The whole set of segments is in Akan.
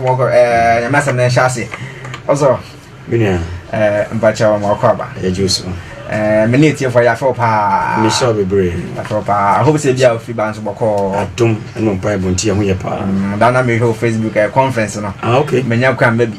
nyame asɛm no nhyɛ ase ɔsɔ menua mpakyɛ wɔ ma ɔkɔ aba yɛgye so me ne ɛtiefoɔ yɛafɛ wo paa mehyɛ wo bebree afɛ wo paa ahope sɛ bia wofiri baa nso bɔkɔɔ adom ne mpaebɔ nti ɛho yɛ paa da na mehwɛ wo facebook conference no ah, okay. manya kɔ amma bi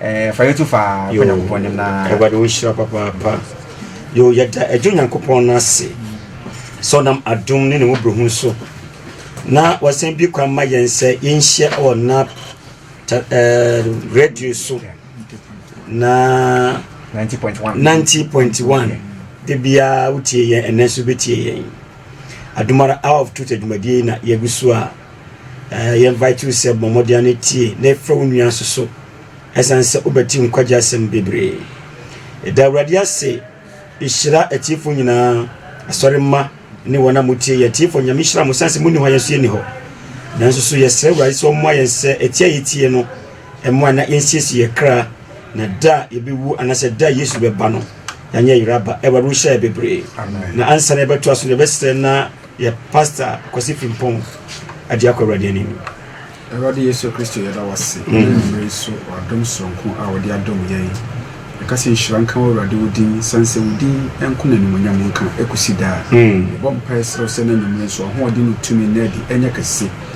Eh, fa yɛtu fa kɔ nyankopɔn nim na awurade wo nhyira papaapa yo yɛda agye onyankopɔn no ase sɛ ɔnam adom ne ne mmɔborɔhu so na wɔsan bi kwan ma yɛn sɛ yɛnhyia wɔ na eh, radio so na 90.1 90.1 da biara wotie yɛn ɛnɛ nso bɛtie yɛn adomara hour of truth adwumadie na yɛgu so a Yɛ invite wo sɛ bɔ mmɔden ano tie na ɛfrɛ wo nua nso so ɛsan sɛ wobɛte nkwagye asɛm bebree. Ɛda Awurade ase hyira atiefo nyinaa, asɔre mma ne wɔn a motie yɛ atiefo nyame hyira mo san sɛ monni hɔ a yɛn nso yɛnni hɔ. Nanso so yɛsrɛ Awurade sɛ ɔmmoa yɛn sɛ ɛtie a yɛtie no ɛmmoa na yɛnsiesie yɛ kra na da a yɛbɛwu anaasɛ da a Yesu bɛba no yɛanyɛ yeraba. Awurade wohyɛ yɛ bebree na ansa na yɛbɛtoa so na yɛbɛsrɛ na Yɛ Pastor Kwasi Frimpong agye akɔ Awurade anim. Awurade Yesu Kristo yɛda wo ase ɛna anwummerɛ yi so w'adom soronko a wode adom yɛn. Yɛka sɛ nhyira nka wo Awurade wo din, sane sɛ wo din nko na animuonyam nka ɛkɔsi daa. Yɛbɔ mpaeɛ srɛ wo sɛ ɛna anwummerɛ yi so w'ahoɔden ne wo tumi nna adi ɛnyɛ kɛse.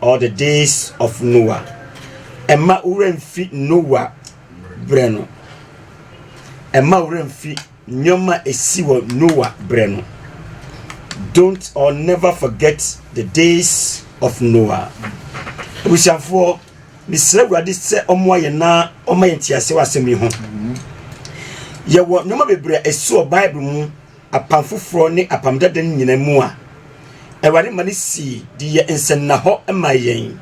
All the days of Noah. Ɛmma wo werɛ mfi Noa berɛ no. Ɛmma wo werɛ mfi nneɛma a ɛsi wɔ Noa berɛ no. Don't or never forget the days of Noah. Abusuafoɔ, mesrɛ Awurade sɛ ɔmmoa yɛn na ɔma yɛn nteaseɛ wɔ asɛm yi ho. Yɛwɔ nneɛma bebree a ɛsi wɔ Bible mu Apam Foforɔ ne Apam Dada no nyinaa mu a, Awurade ma no sii de yɛ nsɛnnahɔ ma yɛn.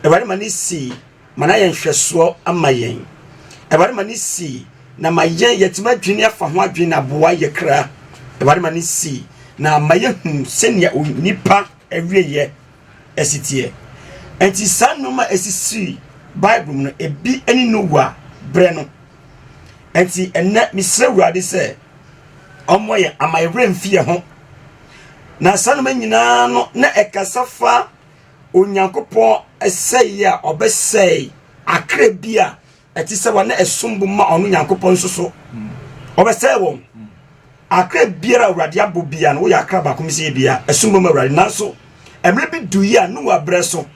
Awurade ma no sii ma no ayɛ nhwɛsoɔ ama yɛn. Awurade ma no sii na ma yɛn yɛatumi adwene afa ho adwene na aboa yɛ kra. Awurade ma no sii na ama yɛhunu sɛnea onipa awieɛ si teɛ. Enti saa nneɛma a ɛsisii Bible mu no, ebi ne Noa berɛ no. Enti ɛnnɛ, mesrɛ Awurade sɛ ɔmmɔ yɛn ama yɛn werɛ mfi yɛn ho. Na saa nneɛma nyinaa no na ɛkasa fa Onyankopɔn sɛeɛ a ɔbɛsɛe akra bi a Ɛte sɛ wɔn na ɛsom bo ma ɔno Nyankopɔn nso so. Ɔbɛsɛe wɔn. Akra biara a Awurade abɔ bia no woyɛ akra baako mesɛ bia ɛsom bo ma Awurade nanso mmerɛ bi du yi a Noa berɛ so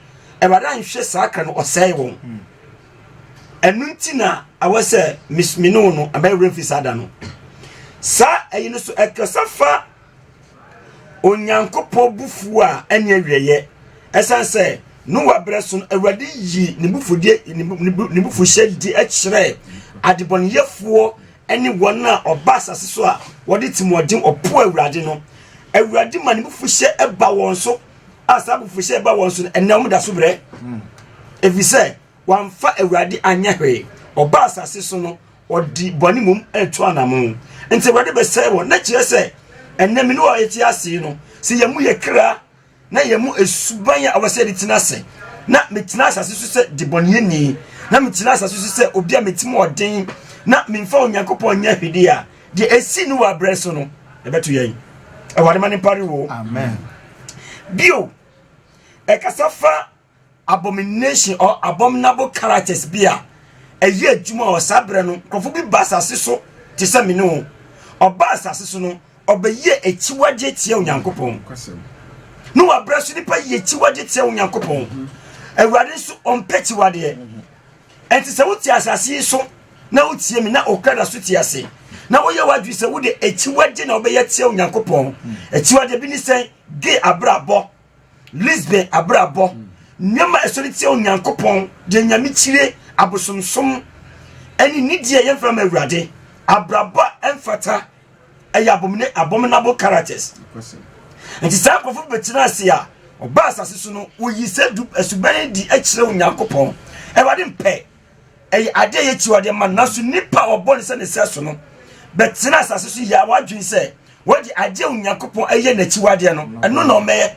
Awurade anhwɛ saa akra no ɔsɛe wɔn. Ɛno nti na awɔ sɛ mene wo no ɛbɛyɛ werɛ mfi saa da no. Saa ɛyi no so ɛkasa fa Onyankopɔn bo fuw a ɛne awiɛyɛ. Ɛsan sɛ Noa berɛ so no, Awurade yi ne bufuhyɛ di kyerɛ adebɔneyɛfoɔ ne wɔn a ɔba asase so a wɔde timoɔden ɔpo Awurade no. Awurade ma ne bufuhyɛ ɛba wɔn so a saa bufuhyɛ ɛba wɔn so no, ɛnɛ wɔn da so brɛ. Ɛfiri sɛ, Wamfa Awurade anyɛ hwee. Ɔbaa asase so no, ɔde bɔne mmom retu anammɔn. Nti Awurade bɛsɛe wɔn. Na kyerɛ sɛ, ɛnnɛ me ne wo a yɛte ase yi no, sɛ yɛn mu yɛ kra na yɛn mu suban a ɛwɔ sɛ yɛde tena ase, na metena asase so sɛ debɔneyɛni, na metena asase so sɛ obi a metim ɔden, na memfa Onyankopɔn nyɛ hwede a, deɛ ɛsii no wɔ abrɛ so no, ɛbɛto yɛn. Awurade ma ne mpare wo. Amen. Bio, ɛkasa fa abomination or abominable characters bi a ɛyɛ adwuma wɔ saa berɛ no nkurɔfo bi ba asase so te sɛ me ne wo ɔba asase so no ɔbɛyɛ akyiwagye tia onyankopɔn ne wabrɛ so nipa yɛ akyiwagye tia onyankopɔn awurade nso ɔmpɛ kyiwadeɛ ɛnti sɛ wote asase yi so na wotie me na okra da so te ase na woyɛ w'adwene sɛ wode akyiwagye na wobɛyɛ tia onyankopɔn akyiwagye bi ne sɛ ge abrabɔ Lisbon abrabɔ, nneɛma a ɛsɔre tia Onyankopɔn, deɛ nyame kyire, abosomsom, ɛne nidi a yɛmfa ma Awurade, abrabɔ a ɛmfata, ɛyɛ abomine abominable characters. Nti saa nkurɔfo bi bɛtena ase a ɔba asase so no, woyi sɛ asubɛn di kyerɛ Onyankopɔn. Awurade mpɛ ɛyɛ adeɛ yɛ akyiwadeɛ ma no nanso nipa a ɔbɔ ne sɛ ne sɛ so no bɛtena asase so yɛ a wadwene sɛ wɔde adeɛ onyankopɔn ɛyɛ n'akyiwadeɛ no ɛno na ɔmɛyɛ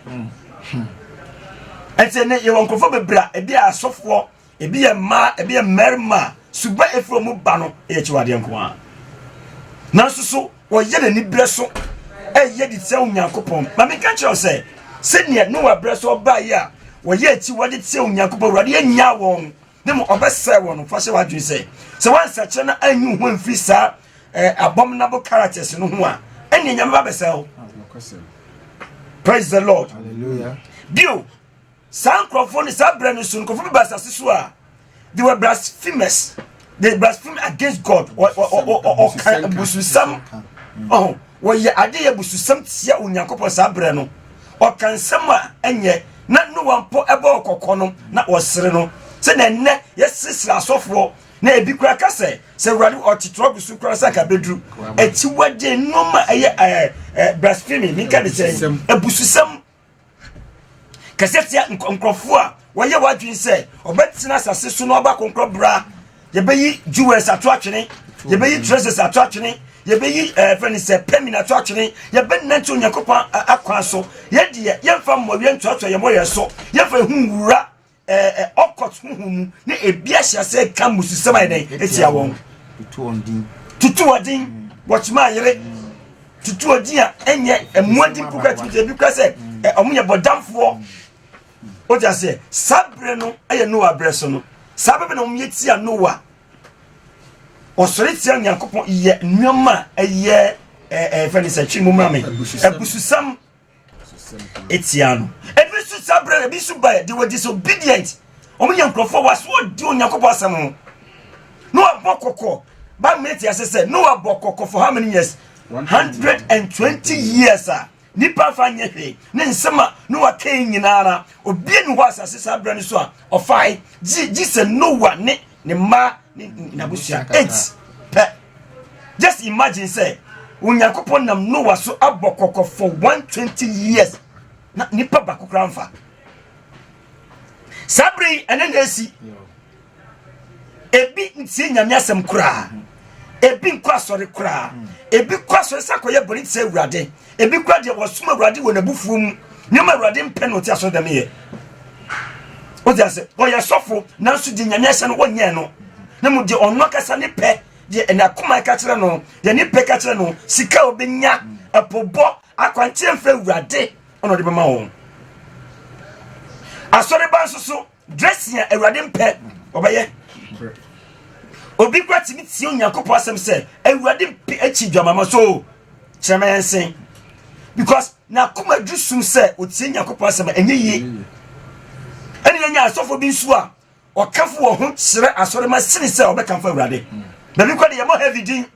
ɛnti ne yɛwɔ nkurɔfoɔ bebree a ebi yɛ asɔfoɔ ebi yɛ mmaa ebi yɛ mmarima suba efiri ɔmo ba no ɛyɛ akyiwadeɛ nko ara nanso so wɔyɛ n'ani berɛ so ɛyɛ de tia onyankopɔn ma meka kyerɛ sɛ sɛdeɛ noa berɛ so ɔbaeɛ a wɔyɛ akyiwade tia onyankopɔn awurade yɛnyaa wɔn ne mu ɔbɛsɛe wɔn no fahyɛ w'adwene sɛ sɛ wɔansɛkyerɛ na anyi wo ho amfiri saa eh, abominable characters no ho a ɛne nyame ba bɛsɛe wo praise the lord bio saa nkurɔfoɔ no saa berɛ no so nkurɔfoɔ bi ba asase so a they were blasphemous they blaspheme against god ɔka abususɛm wɔyɛ ade yɛ abususɛm tia onyankopɔn saa berɛ no Ɔka nsɛm a ɛnyɛ. Na Noa mpo bɔɔ kɔkɔ no, na ɔsere no. Sɛnea nnɛ yɛseresere asɔfoɔ, na ebi koraa ka sɛ, Sɛ Awurade ɔte trɔk so koraa sɛ anka abɛduru. Akyiwadeɛ, nnoɔma a ɛyɛ ɛɛ ɛɛ blasphemy, menka ne sɛn, abususɛm kɛseɛ tia nk nkorɔfoɔ a Wɔyɛ w'adwene sɛ ɔbɛtena asase so na ɔba kɔnkɔ bra. Yɛbɛyi jewels ato atwene. Yɛbɛyi treasures ato atwene. Yɛbɛyi ɛɛ eh, fɛn ne sɛ pɛmin ato atwene. Yɛbɛnante Onyankopɔn akwan so. Yɛn deɛ yɛmfa mmɔyɛ ntoatoa yɛn mmɔyɛ so. Yɛmfa ehu nwura ɛɛ eh, eh, ɔkɔt huhu mu ne ebi ahyɛ ase ka mmususɛm ayɛ dɛn etia wɔn. Tutu wɔn din. Tutu wɔn din. Wɔkyema ayere. Tutu wɔn din a ɛnyɛ mmoa din kura tumi ebi kura sɛ ɔmo yɛ bɔdamfoɔ. o ti aseɛ saa berɛ no yɛ noa berɛ so no saa bɛbɛ na wɔn yɛ tia noa ɔsɔre tia nyankopɔn yɛ nneɛma a ɛyɛ ɛɛ fɛn sɛ twi mu maame abususɛm etia no ebi nso saa berɛ ebi nso ba de wɔ disobedient wɔn yɛ nkurɔfoɔ wɔ aso di onyankopɔn asɛm ho noa bɔ kɔkɔ baabu yɛ ti ase sɛ noa bɔ kɔkɔ for how many years hundred and twenty years a. Nnipa mfa nyɛ hwee. Ne nsɛm a Noa kae nyina ara, obiara nni hɔ asase saa berɛ no so a ɔfae, gye gye sɛ Noa ne ne mma ne n'abusua. Ent pɛ. Just imagine sɛ Onyankopɔn nam Noa so abɔ kɔkɔ for 120 years na nipa baako koraa mfa. Saa berɛ yi ɛne na esi. ebi ntie nyame asɛm koraa ebi nkɔ asɔre koraa ebi kɔ asɔre sɛ akɔyɛ bɔne te sɛ awurade ebi kora deɛ wɔsom awurade wɔ n'abufuo mu nneɛma awurade mpɛ na ɔte asɔre dɛm yɛ wode ase ɔyɛ sɔfo nanso deɛ nyame ahyɛ no wɔnyɛɛ no na mu deɛ ɔno akasa ne pɛ deɛ ɛna akoma ɛka kyerɛ no deɛ ne pɛ ka kyerɛ no sika ɔbɛnya ɛpobɔ akwanteɛ mfɛ awurade ɔna ɔde bɛma wɔn asɔre ba nso so Gyesea Awurade mpɛ ɔbɛyɛ. Obi kura tumi tie Onyankopɔn asɛm sɛ Awurade mpɛ akyi dwamama so kyerɛ ma yɛn sen. Because n'akoma duru sum sɛ otie Onyankopɔn asɛm ɛnyɛ yie. Ɛne yɛnya asɔfo bi nso a ɔkafo wɔ ho kyerɛ asɔre ma sini sɛ ɔbɛkamfo Awurade. Baabi kɔ de yɛmɔ heavy din.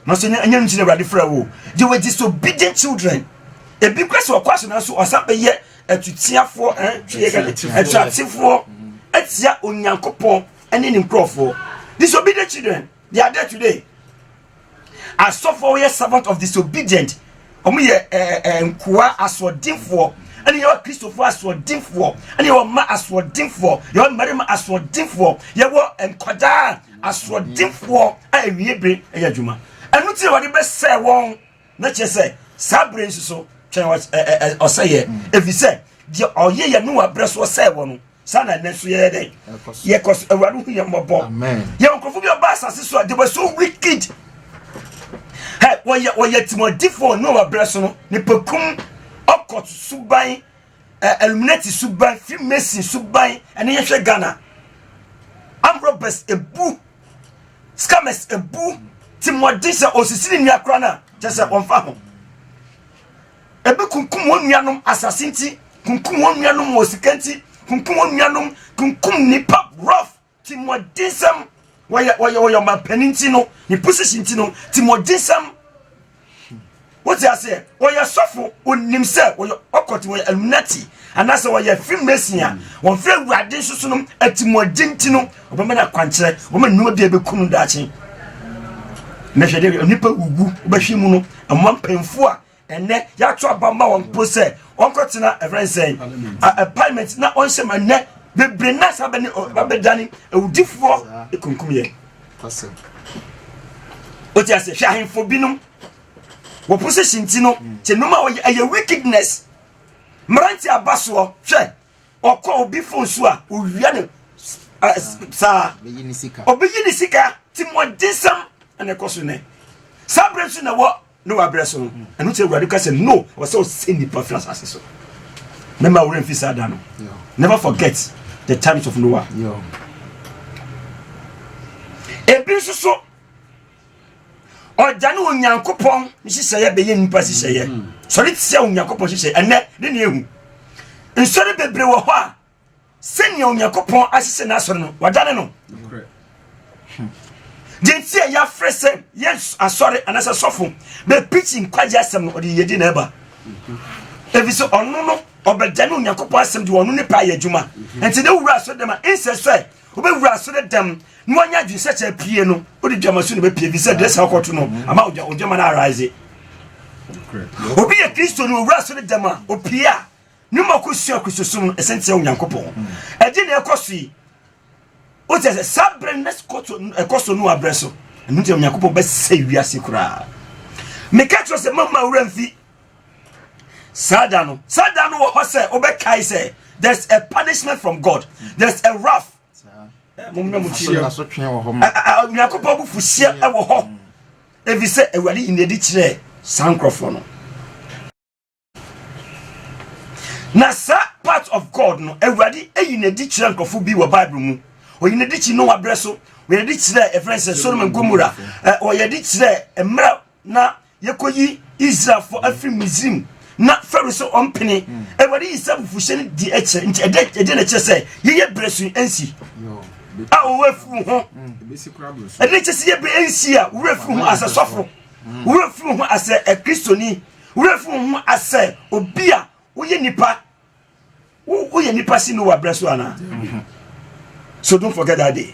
Nanso ɛnyɛ ɛnyɛ no nti na Awurade frɛ wo. They were disobedient children. Ebi kura sɛ ɔkɔ asena so ɔsan bɛyɛ atutiafoɔ ɛtuatefoɔ atia Onyankopɔn ɛne ne nkurɔfoɔ. Disobedient children they are there today. Asɔfoɔ yɛ servant of disobedient. Wɔn yɛ ɛɛ ɛɛ nkoa asoɔdenfoɔ ɛne yɛwɔ kristofoɔ asoɔdenfoɔ ɛne yɛwɔ mma asoɔdenfoɔ yɛwɔ mmarima asoɔdenfoɔ yɛwɔ nkwadaa Asoɔdenfoɔ a awie bere yɛ adwuma. Ɛno nti na wɔde bɛsɛe wɔn. Na kyerɛ sɛ saa bere nso so twɛn ɔsɛeɛ, ɛfiri sɛ deɛ ɔyɛ yɛ Noa berɛ so ɔsɛe wɔ no, saa na ɛnɛ so yɛyɛ dɛn? Yɛkɔ so. Awurade hu yɛn mmɔbɔ. Yɛn nkurɔfoɔ bi ɔba asase so a, they were so wicked. Wɔyɛ wɔyɛ timɔdifoɔ Noa berɛ so no, nipakum ɔkɔ suban eh, illuminati suban freemason suban ɛne yɛhwɛ ghana amrobes ebu scammers ebu ti mmɔden sɛ ɔsisi ne nua kora no a kyɛ sɛ ɔmfa ho ebi kunkum wɔn nuanom asase nti kunkum wɔn nuanom wɔ sika nti kunkum wɔn nuanom kunkum nipa rough Timoɔdensɛm, wɔyɛ wɔyɛ wɔyɛ ɔmampanin nti no ne position nti no timoɔdensɛm wote aseɛ wɔyɛ sɔfo onim sɛ wɔyɛ ɔkɔte wɔyɛ illuminati anaasɛ wɔyɛ freemason a wɔn fɛ awurade nso so no atimoɔden nti no ɔbɛma no akwankyerɛ ɔbɛma nnoma bi a ɛbɛku no daakye mɛhwɛ deɛ nipa wuwu wobɛhwɛ mu no ɛmoa mpanyinfoɔ a Ɛnnɛ yɛato aba ma wɔn mpo sɛ wɔnkɔtena ɛfrɛ nsɛn appointment na wɔnhyɛ ma nnɛ bebree na saa bɛne babɛdane awudifoɔ ekunkum yɛn wote ase hwɛ ahemfo binom wɔ position ti no kyɛ nnum a wɔyɛ ɛyɛ wickedness mmerante aba soɔ hwɛ ɔkɔ obi fon so a owia no saa ɔbɛyi ne sika ti mu ɔdensɛm ɛna ɛkɔ so nɛ saa berɛ nso na wɔ Noa berɛ so no, ɛno nti Awurade ka sɛ no, wɔ sɛ ɔsɛ nnipa firi asase so. Mɛma wo werɛ mfi saa da no. Never forget the times of Noah. Ebi nso so, ɔgya ne Onyankopɔn nhyehyɛeɛ bɛyɛ nnipa nhyehyɛeɛ. Mm. Sɔre tia Onyankopɔn nhyehyɛeɛ ɛnɛ ne ne ehu. Nsɔre bebree wɔ hɔ a sɛnea onyankopɔn ahyehyɛ n'asɔre no wadane no deɛ nti a yɛafrɛ sɛ yɛ asɔre anaasɛ sɔfo bɛpikyi nkwagye asɛm no ɔde yɛdi na ɛba ɛfiri sɛ ɔno no ɔbɛda ne onyankopɔn asɛm de ɔno ne paa yɛ adwuma nti ne wura asɔre dɛm a ɛnsɛ sɛ wobɛwura asɔre dɛm na wanya adwene sɛ kyɛ pie no wode dwama so ne bɛpie ɛfiri sɛ drɛsa wokɔto no ama odwama no arise obi yɛ kristo no ɔwura asɔre dɛm a ɔpie a Nnwuma kosua Kristosom no ɛsɛn tia Onyankopɔn. Ɛgye na ɛkɔ so yi. O kyɛ sɛ saa berɛ no ɛkɔ so no abrɛ so. Ɛno nti Onyankopɔn bɛsɛ wiase koraa. Meka kyerɛ sɛ mama awura mfi saa da no. Saa da no wɔ hɔ sɛ wobɛkae sɛ there's a punishment from God. There's a wrath. Onyankopɔn bu fuhyeɛ wɔ hɔ. Ɛfiri sɛ Awurade yɛ ne adi kyerɛ saa nkurɔfoɔ no. Na saa part of God no, Awurade ayi no adi kyerɛ nkurɔfo bi wɔ Bible mu. Ɔyi no adi kyi Noa berɛ so, ɔyɛ adi kyerɛ ɛfrɛ sɛ Solomon Gomora, ɔyɛ adi kyerɛ mmerɛ na yɛkɔyi Israelfoɔ afiri Misrim na Pharaoh sɛ ɔmpene hmm. awurade yi sɛ bufuhyɛ no di akyerɛ nti ɛdɛ ɛdɛ na kyerɛ sɛ yɛyɛ brɛ so ɛnsi a ɔwɔ afiri ho ɛdɛ kyerɛ sɛ yɛ brɛ ɛnsi a wura afiri ho asɛ sɔfo hmm. wura afiri ho asɛ ɛkristoni Wura fi wo ho asɛ obi a woyɛ nipa wo woyɛ nipa si no wa brɛ so ana so don't forget that day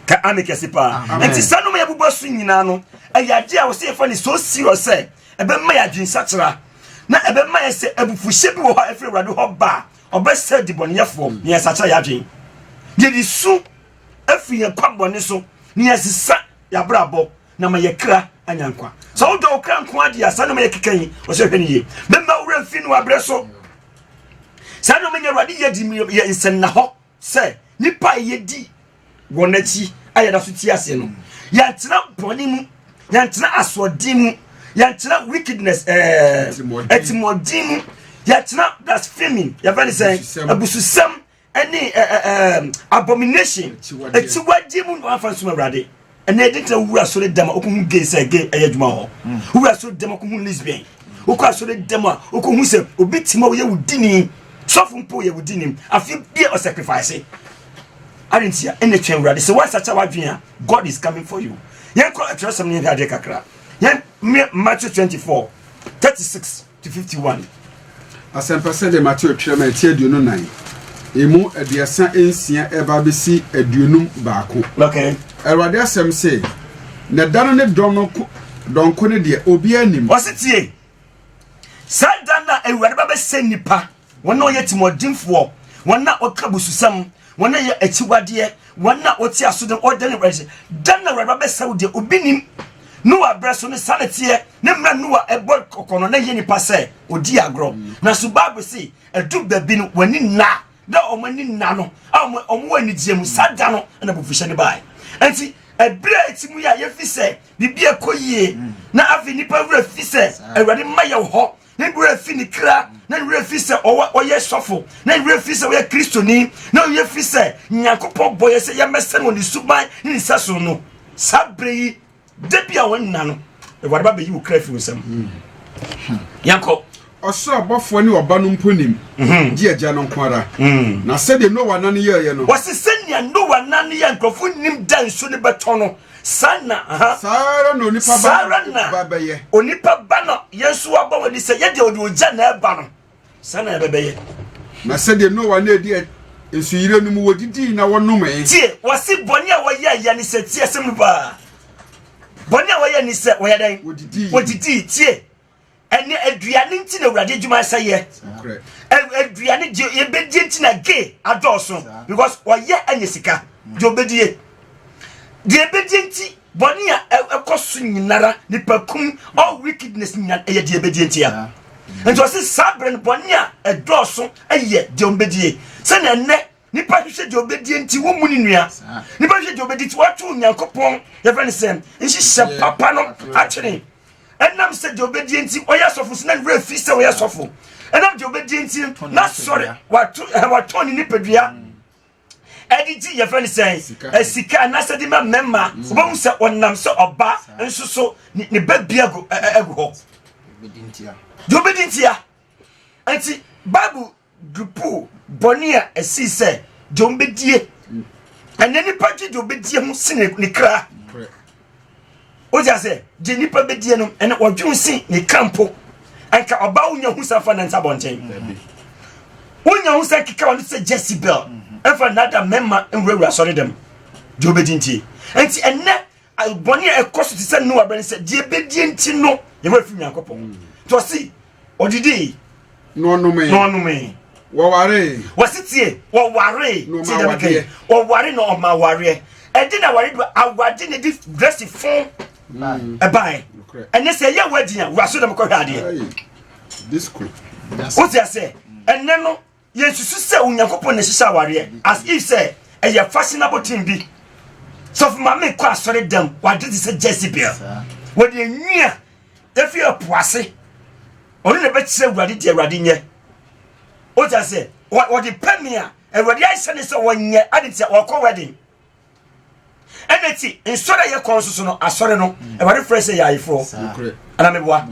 ka ame kɛse paa nti saa noma yɛ bubɔ so nyinaa no ɛyɛ adeɛ a wɔsɛ yɛfa ne so serious sɛ ɛbɛma yɛ adwensakyera na ɛbɛma yɛ sɛ abufuhyɛ bi wɔ hɔ a ɛfiri awurade hɔ ba a ɔbɛsɛ dibɔneyɛfoɔ ne yɛsakyera yɛ adwen yɛde su afiri yɛn kwa bɔne so ne yɛsesa yɛabrabɔ na ma yɛ kra anya nkwa sɛ wodɔ wo kra nko adeɛ a saa nneɛma yɛ keka yi ɔsɛ hwɛ no yie mɛma wo werɛ mfi no abrɛ so saa nneɛma nyɛ awurade yɛ di yɛ nsɛnna hɔ sɛ nipa a yɛdi wɔn akyi a yɛda so ti aseɛ no yɛntena bɔne mu yɛntena asoɔden mu yɛntena wickedness ɛtimɔden eh, mu yɛntena blasphemy yɛfɛ ne sɛ abususɛm ɛne ɛɛ eh, ɛɛ eh, eh, abomination akyiwadeɛ mu na wafa nsoma awurade ɛnna ɛdi ntina wura asɔre dɛm a okohu gay sɛ gay ɛyɛ adwuma hɔ hmm. wura asɔre dɛm a okohu lesbian okɔ asɔre dɛm a okohu sɛ obi ti ma oyɛ wo dini sɔfo mpo yɛ wo dini afi bie ɔsɛkrifase adi ntia ɛnna twɛn awurade sɛ wasakyɛ wadwin a god is coming for you yɛn kɔ atwerɛsɛm ne yɛn hwɛ adeɛ kakra yɛn mmea matthew twenty four thirty six. 251. Asɛmpa sɛdeɛ Mateo twerɛ ma ɛti aduonu nnan, emu aduasa nsia ɛreba abɛsi aduonum baako. Okay. Awurade asɛm se, na da no ne dɔn no ko dɔnko ne deɛ obiara nim. Wɔse tie, saa da no a Awurade ba bɛsɛ nnipa. wɔn a wɔyɛ timoɔdenfoɔ, wɔn a wɔka bususɛm, wɔn a wɔyɛ akyiwadeɛ, wɔn a wɔte aso de wɔda ne wɛrɛ da na wɛrɛ bɛsɛ wo deɛ obi nim noa berɛ so ne sane teɛ ne mmerɛ noa ɛbɔ kɔkɔ no na yɛ nipa sɛ ɔdi agorɔ na so bible se ɛdu baabi no wɔani nna na wɔn ani nna no a wɔn wɔ anigyeɛ mu saa da no na bufuhyɛ no baeɛ nti ɛberɛ a ɛti mu yɛ a yɛfi sɛ biribi ɛkɔ yie na afei nipa werɛ fi sɛ awurade mma yɛ hɔ ne werɛ fi ne kra na ne werɛ fi sɛ ɔyɛ sɔfo na ne werɛ fi sɛ ɔyɛ kristoni na ɔyɛ fi sɛ nyankopɔn bɔ yɛ sɛ yɛmmɛsɛn wɔ ne suban ne ne sɛso no saa berɛ yi da bi a wɔn nna no awurade ba bɛyi wo kra fi wo nsam yɛnkɔ ɔsoro abɔfoɔ ne ɔba no mpo nim mhm. gye agya no nko ara mhm. na sɛdeɛ noa nane yɛeɛ no wɔse sɛnea noa nane yɛ nkurɔfoɔ nim da nsu no bɛtɔ no Saa na, aha. Saa ara na onipa ba no nso ba bɛyɛ. Onipa ba no, yɛn nso aba wɔ ni sɛ yɛ deɛ ɔde ogya na ɛba no. Saa na yɛbɛbɛyɛ. Na sɛdeɛ Noa na ɛdi nsuyire no mu wɔdidii na wɔnomee. Tie, wɔsi bɔne a wɔyɛ yɛ ne sɛ tie asɛm no paa. Bɔne a wɔyɛ ne sɛ wɔyɛ dɛn? Wɔdidii. Wɔdidii. Tie. ɛnɛ aduane nti na awurade adwuma sɛ yɛ aduane deɛ yɛbɛdie nti na ge adɔɔso because ɔyɛ anya sika deɛ ɔbɛdie deɛ ɛbɛdie nti bɔne a ɛkɔ so nyinara nipa kum all wickedness nyina ɛyɛ deɛ ɛbɛdie nti a nti ɔse saa berɛ no bɔne a ɛdɔɔso ɛyɛ deɛ ɔmbɛdie sɛne ɛnɛ Nipa hwehwɛ deɛ ɔbɛdie nti wɔmu ne nua nipa hwehwɛ deɛ ɔbɛdi nti wɔato onyankopɔn yɛfrɛ no sɛ nhyehyɛ papa no atwene ɛnam sɛ deɛ ɔbɛdie nti ɔyɛ asɔfo so na ne werɛ fi sɛ ɔyɛ asɔfo ɛnam deɛ ɔbɛdie nti na sɔre watɔn ne nipadua ɛde gye yɛfrɛ no sɛ sika anaasɛ de ma mmarima wobɛhu sɛ ɔnam sɛ ɔba nso so ne ba bi agu hɔ deɛ ɔbɛdi ntia nti bible Dwupuw bɔne a ɛsii sɛ dwonbedie ɛnɛ nipa gye dwonbedie ho si ne ne kra wogye ase gye nipa bedie no ɛnɛ wɔdwen si ne kra mpo ɛnka ɔbaa wonya ho sa fa ne nsa bɔnten wonya ho sa keka wɔn sɛ Jezebel ɛfa nada mɛma nwurawura sɔre dɛm dwonbedi ntie nti ɛnɛ bɔne a ɛkɔ so te sɛ noa bɛne sɛ deɛ ɛbɛdie nti no yɛwɔ afiri nyankopɔn mm. nti ɔse ɔdidii na ɔnomee na ɔnomee wɔwaree wɔse tie wɔwaree tie dɛm kɛi wɔware na ɔma awareɛ ɛde na aware do awade ne de drɛsi fon mm. ɛbae ɛne sɛ ɛyɛ wadi a waso dɛm kɔhwɛ adeɛ wotia sɛ ɛnɛ no Yɛnsusu sɛ Onyankopɔn na ɛhyehyɛ awareɛ as if sɛ ɛyɛ fashion aboten bi. Sɔfo maame kɔ asɔre dɛm wade te sɛ Jezebel. Wɔde enwi a efi ɛpo ase ɔno na ɛbɛkyerɛ awurade deɛ awurade nyɛ. Wogya sɛ wɔde pɛ me a awurade ahyɛ ne sɛ wɔnyɛ ade te sɛ wɔkɔ wedding. ɛna ti nsɔre a yɛkɔ nso so no asɔre no mm. awurade frɛ sɛ yɛayefoɔ anameboa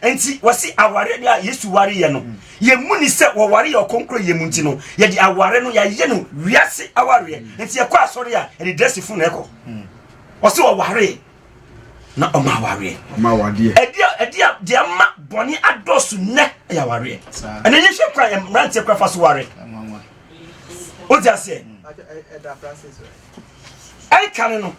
nti wɔse aware a yesu ware yɛ no mm. yɛmu ni sɛ wɔware yɛ ɔkɔnkorɔ yɛ mu nti no yɛde aware no yɛayɛ no wiase awareɛ mm. nti yɛkɔ asɔre a yɛde drɛse fo na ɛkɔ ɔse wɔware na ɔma awareɛ ɛde a deɛ ma bɔne adɔso nnɛ ɛyɛ awareɛ ɛne yɛhwɛ kora mmeranteɛ kora fa so ware wogye aseɛ ɛnka ne no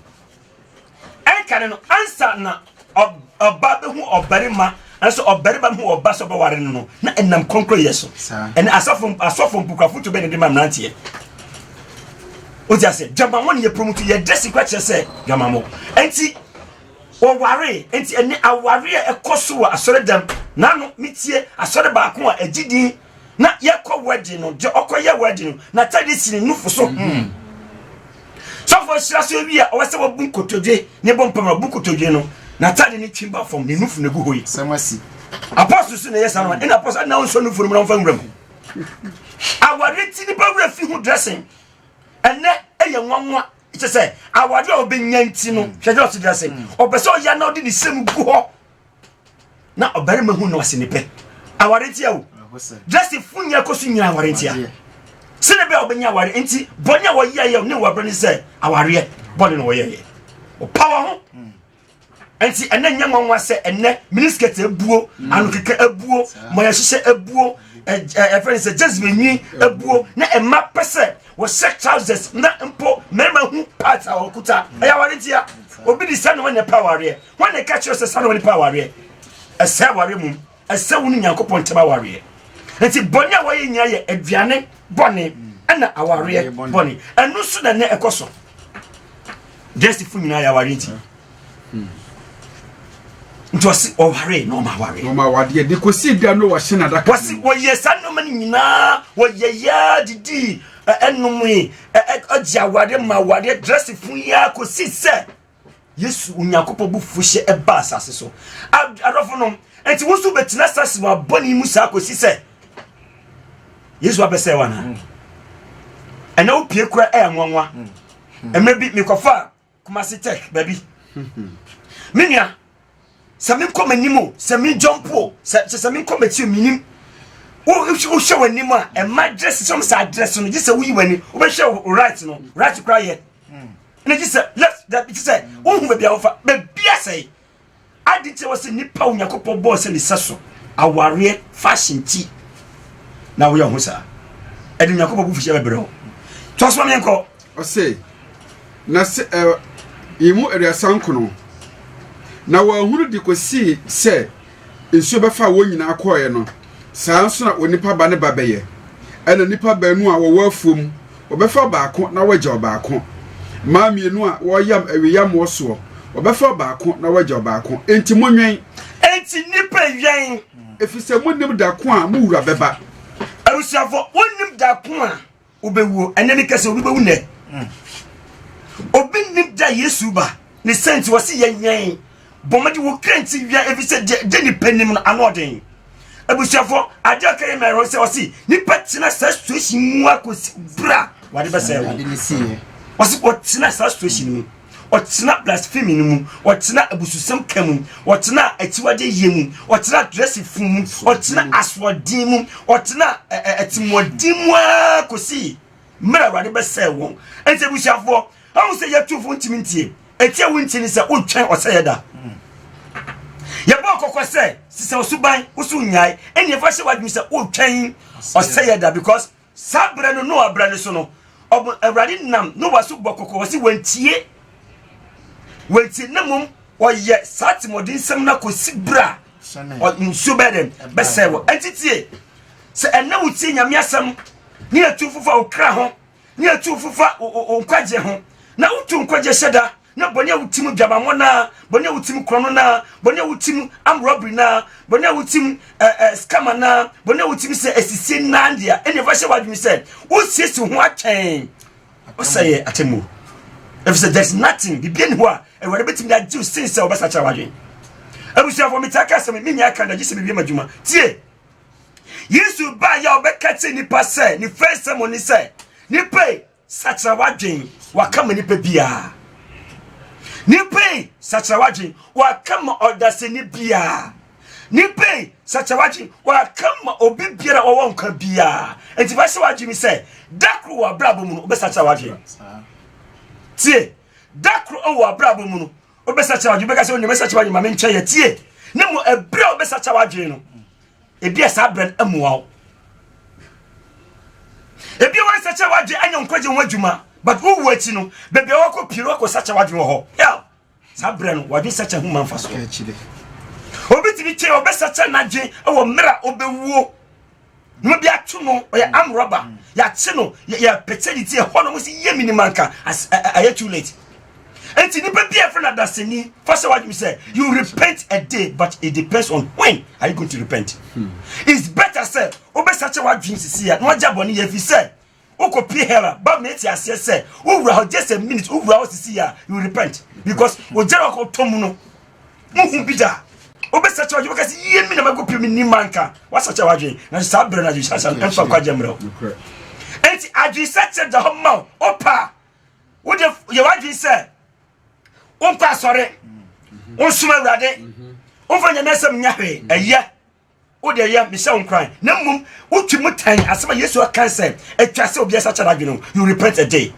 ɛnka ne no ansa na ɔba bɛhu ɔbarima nanso ɔbarima bɛhu ɔba sɛ ɔbɛware no no na ɛnam kronkron yɛ so ɛne asɔfo asɔfo mpukwafo to bɛne de ma mmeranteɛ wogye aseɛ dwamamɔ ne yɛ promoto yɛde si kwa kyerɛ sɛ dwamamɔ ɛnti wɔware nti ɛne aware a ɛkɔ so wɔ asɔre dɛm nano metie asɔre baako a ɛgye din na yɛkɔ wedding no deɛ ɔkɔyɛ wedding no n'atade si ne nufo so hmm. sɔfo ahyira so ewi a ɔwɔ sɛ wabu nkotodwe ne bɔ mpam abu nkotodwe no n'atade ne twi ba fam ne nufo na egu hɔ yi sɛm asi apɔso so na ɛyɛ saa no ɛna apɔso ɛna ɔnsɔ nufo no mu na ɔmfa nwura mu awari ti nipa wura fi ho dressing ɛnɛ ɛyɛ nwanwa kyɛ sɛ awari a ɔbɛnya nti no hwɛ dɛ ɔsi dressing ɔpɛ sɛ ɔyɛ na ɔde ne sɛm gu hɔ na ɔbarima hu no ase ne pɛ aware ntia o joseph nyɛ kɔ so nyina aware ntia sɛne bɛ a wɔbɛnya aware nti bɔne a wɔyɛyɛ ne wɔbrɛ ne sɛ awareɛ bɔne na wɔyɛyɛ ɔpa wɔ ho hmm. nti ɛnɛ nyɛ nwanwa sɛ ɛnɛ miniskɛt abuo hmm. anokeka abuo mɔyɛhyehyɛ abuo ɛfɛ ne sɛ jezebel nwi abuo na ɛma pɛ sɛ wɔhyɛ trousers na mpo mmarima hu part a wɔkuta ɛyɛ aware ntia obi de sɛ ne wɔnyɛ pa awareɛ Wɔn na ɛka kyerɛ sɛ saa na wɔde pa awareɛ ɛsɛ awareɛ mu ɛsɛ wɔn nyankopɔn ntɛm awareɛ nti bɔne a wɔyɛ nyinaa yɛ aduane bɔne ɛna awareɛ bɔne ɛno nso na ɛnɛ ɛkɔ so dɛsifo nyinaa yɛ awareɛ nti nti ɔsi ɔware na ɔma aware. ɔma awadeɛ de kò si dwa no wɔhyɛ na adaka. wɔsi wɔyɛ saa nneɛma no nyinaa wɔyɛ yaa didi ɛnum yi ɛgye awadeɛ ma awadeɛ dɛsifo yi a kò si sɛ. Yesu Onyankopɔn bu fuhyɛ ɛba asase so adɔfo nom nti wo nso bɛtena asase mu abɔne mu saa kɔsi sɛ Yesu abɛsɛ wo anaa ɛnɛ wo pie kora ɛyɛ nwanwa mmerɛ bi mekɔfa Kumasi Tech baabi me nua sɛ menkɔ m'anim o sɛ menjɔmpo o sɛ sɛ menkɔ m'akyi o menim wohwɛ w'anim a ɛma dress sɛ sɛ adress no gye sɛ woyi w'ani wobɛhwɛ wo right no right kora yɛ na gye sɛ left da gye sɛ wohu baabi a wofa baabi asɛe adi nti wɔ sɛ nnipa onyankopɔn bɔɔ sɛ ne sɛ so awareɛ fashion ti na woyɛ ho saa ɛde onyankopɔn bo fihyɛ bɛbrɛ wo toa so ma meɛnkɔ Ɔse, Na se ɛ yi mu aduasa nkono, na wɔanhunu de kosii sɛ nsuo bɛfaa wɔn nyinaa kɔɔɛ no, saa ara nso na onipa Ba no ba bɛyɛ. Ɛna nnipa baanu a wɔwɔ afuo mu, wɔbɛfa ɔbaako na wɔagya ɔbaako. Mmaa mmienu a wɔreyam awiyammoɔ soɔ, wɔbɛfa ɔbaako na wɔagya ɔbaako. Enti monwɛn. Enti nnipa wɛn. Efiri sɛ monnim da ko a mo Wura bɛba. Abusuafoɔ, wonnim da ko a. Wobɛwuo, ɛnɛ ne kɛsɛ obi bɛwu nnɛ. Hmm. Obi nnim da Yesu ba ne sɛ nti wɔse yɛnyɛn bɔmmɔde wo kra nti wia ɛfiri sɛ gye nipa nim no ano ɔden. Abusuafoɔ adeɛ ɔka yɛ mɛrɛ sɛ ɔse nipa tena saa situation mu akɔsi bra wɔde bɛsɛ wo. Ɔse wɔtena saa situation mu. ɔtenaa blasphemy no mu ɔtenaa abususɛm ka mu ɔtenaa akyiwadeɛ yie mu ɔtenaa dressing fun mu ɔtenaa asoɔden mu ɔtenaa ɛtimoɔden mu ara kɔsii mmerɛ awurade bɛsɛe wɔn ɛnti abusuafoɔ ahu sɛ yɛtufoɔ ntimi ntie ɛti a wontie ne sɛ wotwɛn ɔsɛeɛ da yɛbɔ kɔkɔ sɛ sisɛ ɔsoban woso nnyae ɛne ɛfa hyɛ w'adwene sɛ wotwɛn ɔsɛeɛ da because Saa berɛ no Noa berɛ no so no, ɔbo Awurade nam Noa so bɔ kɔkɔ, ɔse wantie, wantie na mmom ɔyɛ saa temmɔdensɛm no akɔsi berɛ a nsuo bɛyɛ dɛn bɛsɛe wɔ ɛnti tie sɛ ɛnɛ wotie nyame asɛm ne atu fofa wo kra ho ne atu fofa wo nkwagye ho na wotu nkwagye hyɛ da na bɔne a woti mu dwamammɔ naa bɔne a woti mu korɔno naa bɔne a woti mu am robbery naa bɔne a woti mu ɛɛ eh, eh, scammer naa bɔne a woti mu sɛ asisie naa deɛ ɛnna ɛfa hyɛ w'adwene sɛ wosiesie ho atwɛn ɔsɛ yɛ atɛmu efisɛ there is nothing bibi ɛni hɔ a awurade bɛtumi de agye osin sɛ ɔbɛsakyera w'adwene abusuafo mi ti aka asɛm mi nya aka da gye sɛ bibi ɛma adwuma tie yesu baa yɛ a ɔbɛka kyerɛ nipa sɛ ne fɛn sɛm ɔne sɛ nipa yi sakyera w'adwen waka ma nipa biara nipa yi sakyera w'adwen waka ma ɔdasani biara nipa yi sakyera w'adwen waka ma obi biara ɔwɔ nkwa biara nti fa hyɛ w'adwen sɛ da koro wɔ abrabɔ mu no wobɛsakyera w'adwen tie da koro wɔ abrabɔ mu no wobɛsakyera w'adwen bɛka sɛ wone mɛsakyera w'adwen ma menkyɛ yɛ tie ne mu ɛberɛ a wobɛsakyera w'adwen no Ebia saa berɛ no mmoa wo. Ebia wɔnsɛkyɛ w'adwene anyɛ nkwagye ho adwuma but wowu akyi no baabi a wakɔ pie no wakɔ sɛkyɛ w'adwene wɔ hɔ hell saa berɛ no w'adwene sɛkyɛ ho ma mfa so obi tumi kyɛ ɔbɛsɛkyɛ n'adwene wɔ mmerɛ a ɔbɛwuo na obi ato no ɔyɛ amrɔba yɛakye no yɛpɛkyɛ ne ti ɛhɔ no mo sɛ yɛ minima nka ayɛ too late Enti nipa bi a yɛfrɛ no adaseni fa sɛ wadwene sɛ you repent a day but it depends on when are you going to repent. Hmm. It's better sɛ wobɛsakyɛ wadwene sisi a na wagya bɔne yɛ fi sɛ wokɔ pie hera ba ma ɛti aseɛ sɛ wowura hɔ just a minute wowura hɔ sisi a you repent because ogyara ɔkɔ tɔ mu no wohu bi da wobɛsakyɛ wadwene wobɛka sɛ yie mi na mɛkɔ pie mi ni ma nka wasakyɛ wadwene na saa berɛ no adwensakyɛ no ɛmfa nkwagya mmerɛ wo enti adwensakyɛ da hɔ ma wo wopa wode yɛ w'adwene sɛ wonkɔ asɔre wonsom awurade womfa nyame asɛm nyɛ hwee ɛyɛ wode ɛyɛ mehyɛ wo nkoran na mmom wotwi mu tan asɛm a yesu aka sɛ atwa sɛ obiara sa kyɛ n'adwene no you repent a day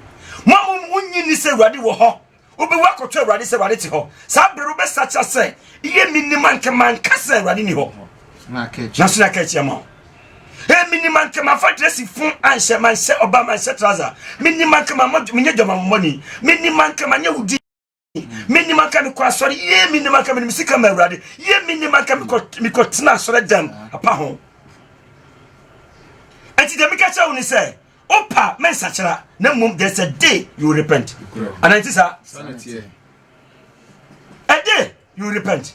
mo a mom wonyi ni sɛ awurade wɔ hɔ wobɛwu akɔtɔ awurade sɛ awurade te hɔ saa bere wobɛsakyera sɛ yɛ menim anka manka sɛ awurade ni hɔ nanso na ka akyia ma wo Hey, mini man kama fa dress fun anhyɛ man hyɛ ɔba man hyɛ trouser. Mini man kama mo menye dwama mo money. Mini man kama nye wudi. Mini man kama kɔ asɔre. Ye mini man kama misi kama awurade. Ye mini man kama kɔ mi kɔ tena asɔre dam apa ho. Enti de meka kyerɛ wo ne sɛ opa men sakyera na mmom there's a day you repent. Ananti sa. A day you repent.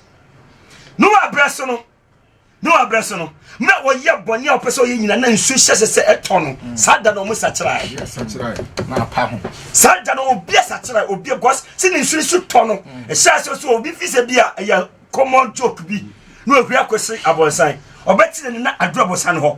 No abraso no Noa berɛ so no na ɔyɛ bɔne a ɔpɛ sɛ ɔyɛ nyina na nsuo hyɛhyɛ sɛ ɛtɔ no mm. saa da na ɔmo sakyerae saa da na obi asakyerae obi because sɛ ne nsuo so tɔ no mm. ɛhyɛ aseɛ so obi fi sɛ bi a ɛyɛ common joke bi na ohwɛ akɔsi abɔnsan ɔbɛkyerɛ ne na aduru abɔnsan hɔ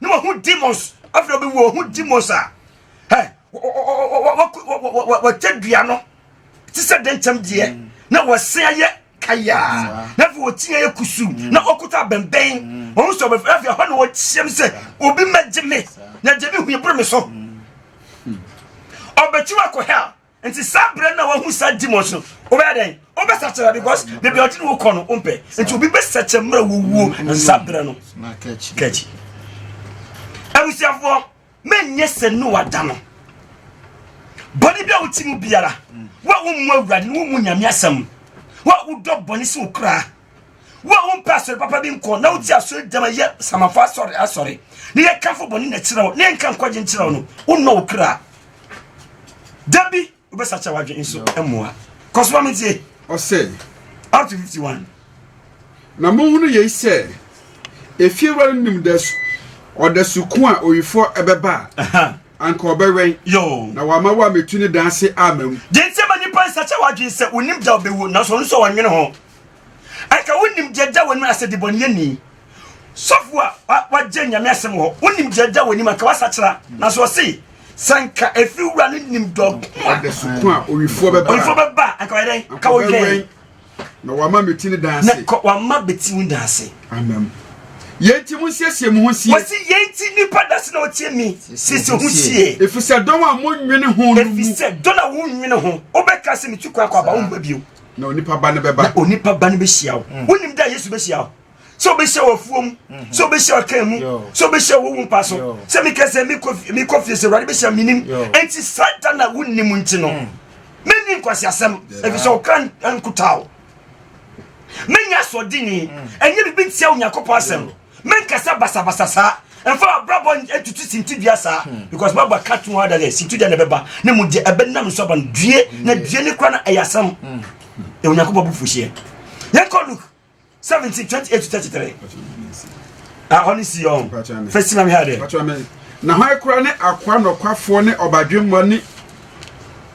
na wahu demons afei obi wu ohu demons a ɛ wɔtɛ dua no ti sɛ dɛnkyɛm deɛ mm. na wɔsen ayɛ kayaa na afei wɔti ayɛ kusu mm. na ɔkuta abɛnbɛn mm. wɔn sɔ bɛfɛ afei ɛhɔ na wɔkyɛm sɛ obi mɛgye me na gye me hu eboro me so ɔbɛkyi wakɔ hell nti saa berɛ na wahu saa demons no wobɛyɛ dɛn wobɛsɛkyerɛ because baabi a ɔde ne wokɔ no wompɛ nti obi bɛsɛkyɛ mmerɛ wɔwuo na saa berɛ no kakyi abusuafoɔ menyɛ sɛ ne wada no bɔne bi a wote mu biara wo a wommu awurade no wommu nyame asɛm wo a wodɔ bɔne sɛ wo koraa wo a wompɛ asɔre papa bi nkɔ na wote asɔre dɛm ɛyɛ samafo asɔre asɔre ne yɛkafo bɔne na kyerɛ wo ne yɛnka nkwagye nkyerɛ wo no wonnɔ wo kra da bi wobɛsakyɛ wadwe nso mmoa kɔ so ma mentie ɔsɛ up to 51 na mohunu yei sɛ efie wura no nim dɛ ɔdasu ko a owifoɔ ɛbɛba a anka ɔbɛwɛn yo na wama wo a metu ne dan ase ama mu deɛ nti ma nnipa nsakyɛ wadwen sɛ wonim da wobɛwu nanso ɔno nso wɔnwene ho Anka wonim deɛ ɛda w'anim anasɛ debɔneyɛni, sɔfo a wagye Nyame asɛm wɔ hɔ, wonim deɛ ɛda w'anim anka wasakyera. Nanso ɔse, sɛ nka ɛfiri wura no nim dɔ ko a owifoɔ bɛba a, anka ɔyɛ dɛn? Anka ɔwɛn. Na wama bɛti ne dan ase. Na wama bɛti wo dan ase. Amen. Yɛn nti mo nsiesie mo ho sie. Wɔsi yɛn nti nipa dase na ɔtie mi siesie ho sie. Efisɛ dɔn a mo nwene ho no mu. Efisɛ dɔn a wo nwene ho, wobɛka sɛ metu kwan kɔ aba wo mma bio. na onipa ba no bɛba na onipa ba no bɛhyia wo mm. wonim da yesu bɛhyia wo sɛ wobɛhyia wɔ afuo mu mhm. sɛ wobɛhyia ɔkan mu sɛ wobɛhyia wɔ wo mpa so sɛ mekɛ sɛ mekɔ fie sɛ awurade bɛhyia menim ɛnti saa da na wonim nti no mm. menni nkwaseasɛm ɛfiri sɛ woka nkotaa wo menya asoɔdeni mm. ɛnyɛ biribi ntia onyankopɔn asɛm menkasa basabasa saa ɛmfa abrabɔ ntutu sintidua saa hmm. because baba ka to ada dɛ sintidua na ɛbɛba ne mu gye ɛbɛnam nso aba no due na hmm. due ne kora no ɛyɛ asɛm hmm. ɛwɔ nyankopɔn bo fuhyeɛ yɛnkɔ luke 17 28 to 33 ahɔ ne si ɔn fɛ si nam ha dɛ na hɔ akora ne akoa nɔkwafoɔ ne ɔbadwemmɔ ne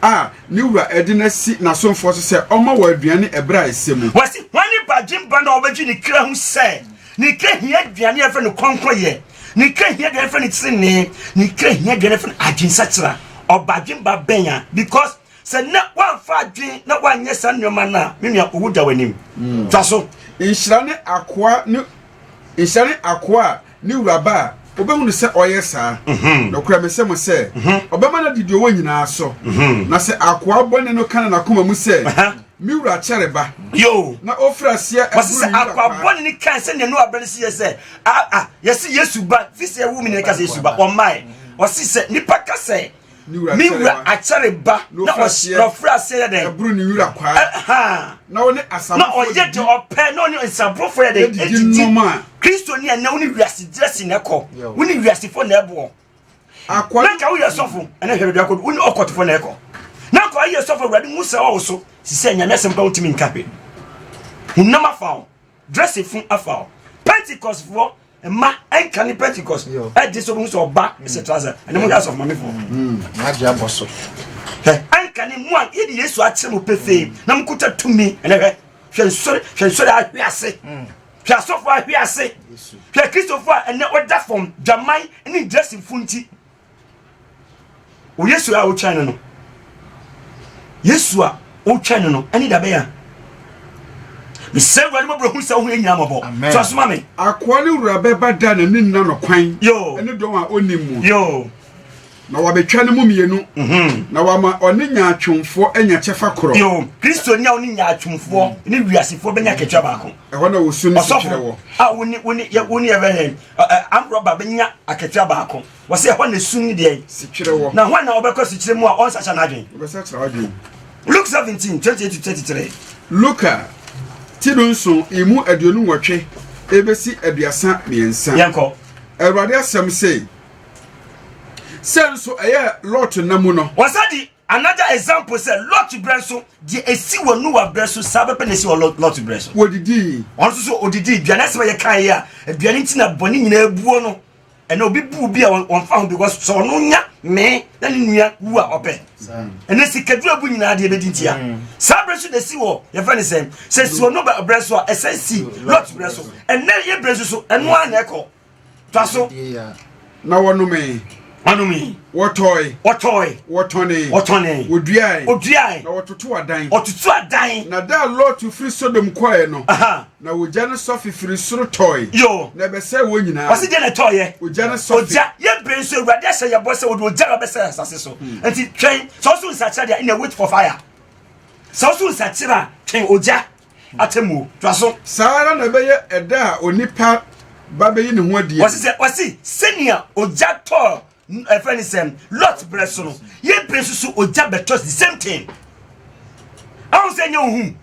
a ne wura ɛde no asi n'asomfoɔ so sɛ ɔma wɔ aduane ɛberɛ a ɛsɛ mu wɔsi wɔne badwemba na ɔbɛgye ne kra ho sɛ Ne kra hia aduane a yɛfrɛ no kɔnkɔyɛ ne kra hia aduane fɛ no tenenee ne kra hia aduane fɛ no adwensakyera ɔba adwen ba bɛn a because sɛ na wamfa adwen na wanyɛ saa nneɛma no a me nua owu da w'anim mm. twa so nhyira ne akoa ne nhyira ne akoa a ne wuraba a wobɛhunu sɛ ɔyɛ saa mhm. nokora mesɛ mo sɛ mhm. ɔbɛma no adidi ɔwɔ nyinaa so mhm. na sɛ akoa bɔne no ka no nakoma mu sɛ Me wura kyɛre ba. Yo. Na ofira seɛ ɛburu yi kakra. Wɔsɛ akwa bɔ ne kan sɛ nenu abɛn si yɛ sɛ a a yɛsi Yesu ba fi sɛ ɛwu mi na ɛka sɛ Yesu ba ɔmae wɔsi sɛ nipa ka sɛ me wura akyɛre ba na ɔfira aseɛ yɛ dɛ ɛburu ne wura kwaa ɛhaa na ɔne asabofo na ɔyɛ de ɔpɛ na ɔne nsabofo yɛ dɛ edidi kristo ni ɛnɛ wɔne wiase gyerɛ si na ɛkɔ wɔne wiase fo na ɛboɔ akɔ na nka woyɛ sɔfo ɛna hwɛ baabi akɔdu wone ɔkɔtefo na ɛkɔ na akɔ ayɛ sɔfo awurade hu sɛ ɔwo so sisɛ nyame asɛm ka wontumi nka hwɛ honam afa wo dresse fun afa wo pentecostfoɔ mma ɛnka ne pentecost ɛgye sɛ ɔbɛhu sɛ ɔba sɛ trasa ɛne mo yɛ asɔfo mamefoɔ hmm, ɛnka ne mu a yɛde yesu akyerɛ mo pefee na mokuta tumi ɛnɛ hwɛ hwɛ nsɔre hwɛ nsɔre ahwe ase hmm. Hwɛ asɔfo ahwe ase. Hwɛ Kristofo a ɛnɛ ɔda fam dwaman ne ntirasifo nti. O Yesu a wotwɛn no no. Yesu a wotwɛn no no ɛne da bɛyɛ. Mesɛ Awurade mɔbrɛ hu sɛ wohu yɛ nyinaa mɔbɔ. So asoma me. Akoa ne wura bɛba da na ne nna no kwan. Yo. Ɛne dɔn a ɔnim mu. Yo. Na wɔabɛtwa no mu mmienu. Mhm. Na wɔama ɔne nyaatwomfoɔ anya kyɛfa korɔ. Yo, Kristoni a ɔne nyaatwomfoɔ mm. ne wiasefoɔ bɛnya katua baako. Ɛhɔ na wɔsu no sikyerɛ wɔ. a wone wone yɛ wone yɛ bɛhɛ amrɔba bɛnya akatua baako. Wɔsɛ ɛhɔ na esu ne deɛ. Sikyerɛ wɔ. Na hɔn na wɔbɛkɔ sikyerɛ mu a ɔnsakyɛ n'adwen. Wɔbɛsakyerɛ adwen. Luke seventeen twenty eight to thirty three. Luka ti do nson emu aduonu nwɔtwe ebesi aduasa mmiɛnsa. Yɛnkɔ. Awurade asɛm sei. sɛ nso ɛyɛ lot nna mu no. wɔsa di another example sɛ lot berɛ nso deɛ ɛsi wɔ noa berɛ so saa bɛpɛ na ɛsi wɔ lot berɛ so wɔdidii wɔn nso so ɔdidii aduane asɛm a yɛka yɛ a aduane nti na bɔne nyinaa buo no ɛna obi buu bi a wɔmfa ho because sɛ ɔno nya mee na ne nua wu a ɔpɛ ɛnɛ sikadura bu nyinaa deɛ bɛdi ntia mm. saa berɛ so na si wɔ yɛfɛ ne sɛ sɛ si wɔ no berɛ so a ɛsɛ si lot berɛ so ɛnɛ yɛ berɛ so so ɛno a na ɛkɔ Twa so. Na wɔnomee. Wɔnomee. Wɔtɔe. Wɔtɔe. Wɔtɔnee. Wɔtɔnee. Wɔduae. Wɔduae. Na wɔtoto adan. Wɔtoto adan. Na da a Lɔto firi Sodom kɔeɛ no. Na ogya no sɔfe firi soro tɔe. Yo. Na ɛbɛsɛe wɔn nyinaa. Wɔsi deɛ na ɛtɔeɛ. Ogya no sɔfe. Ogya yɛ bere nso awurade ahyɛ yɛ bɔ sɛ wɔde ogya na ɔbɛsɛe asase so. Hmm. Nti twɛn sɛ ɔso nsakyera deɛ na wait for fire. Sɛ ɔso nsakyera twɛn ogya. atemmuo. Toa so. Saa ara na ɛbɛyɛ ɛda a onipa ba bɛyi ne ho adi. Wɔsi sɛ wɔsi sɛnea ogya tɔɔ ɛfɛ ne sɛm Lot brɛ so no yɛ brɛ soso ogya bɛtɔ the same thing. Ahun sɛ nyɛ ohun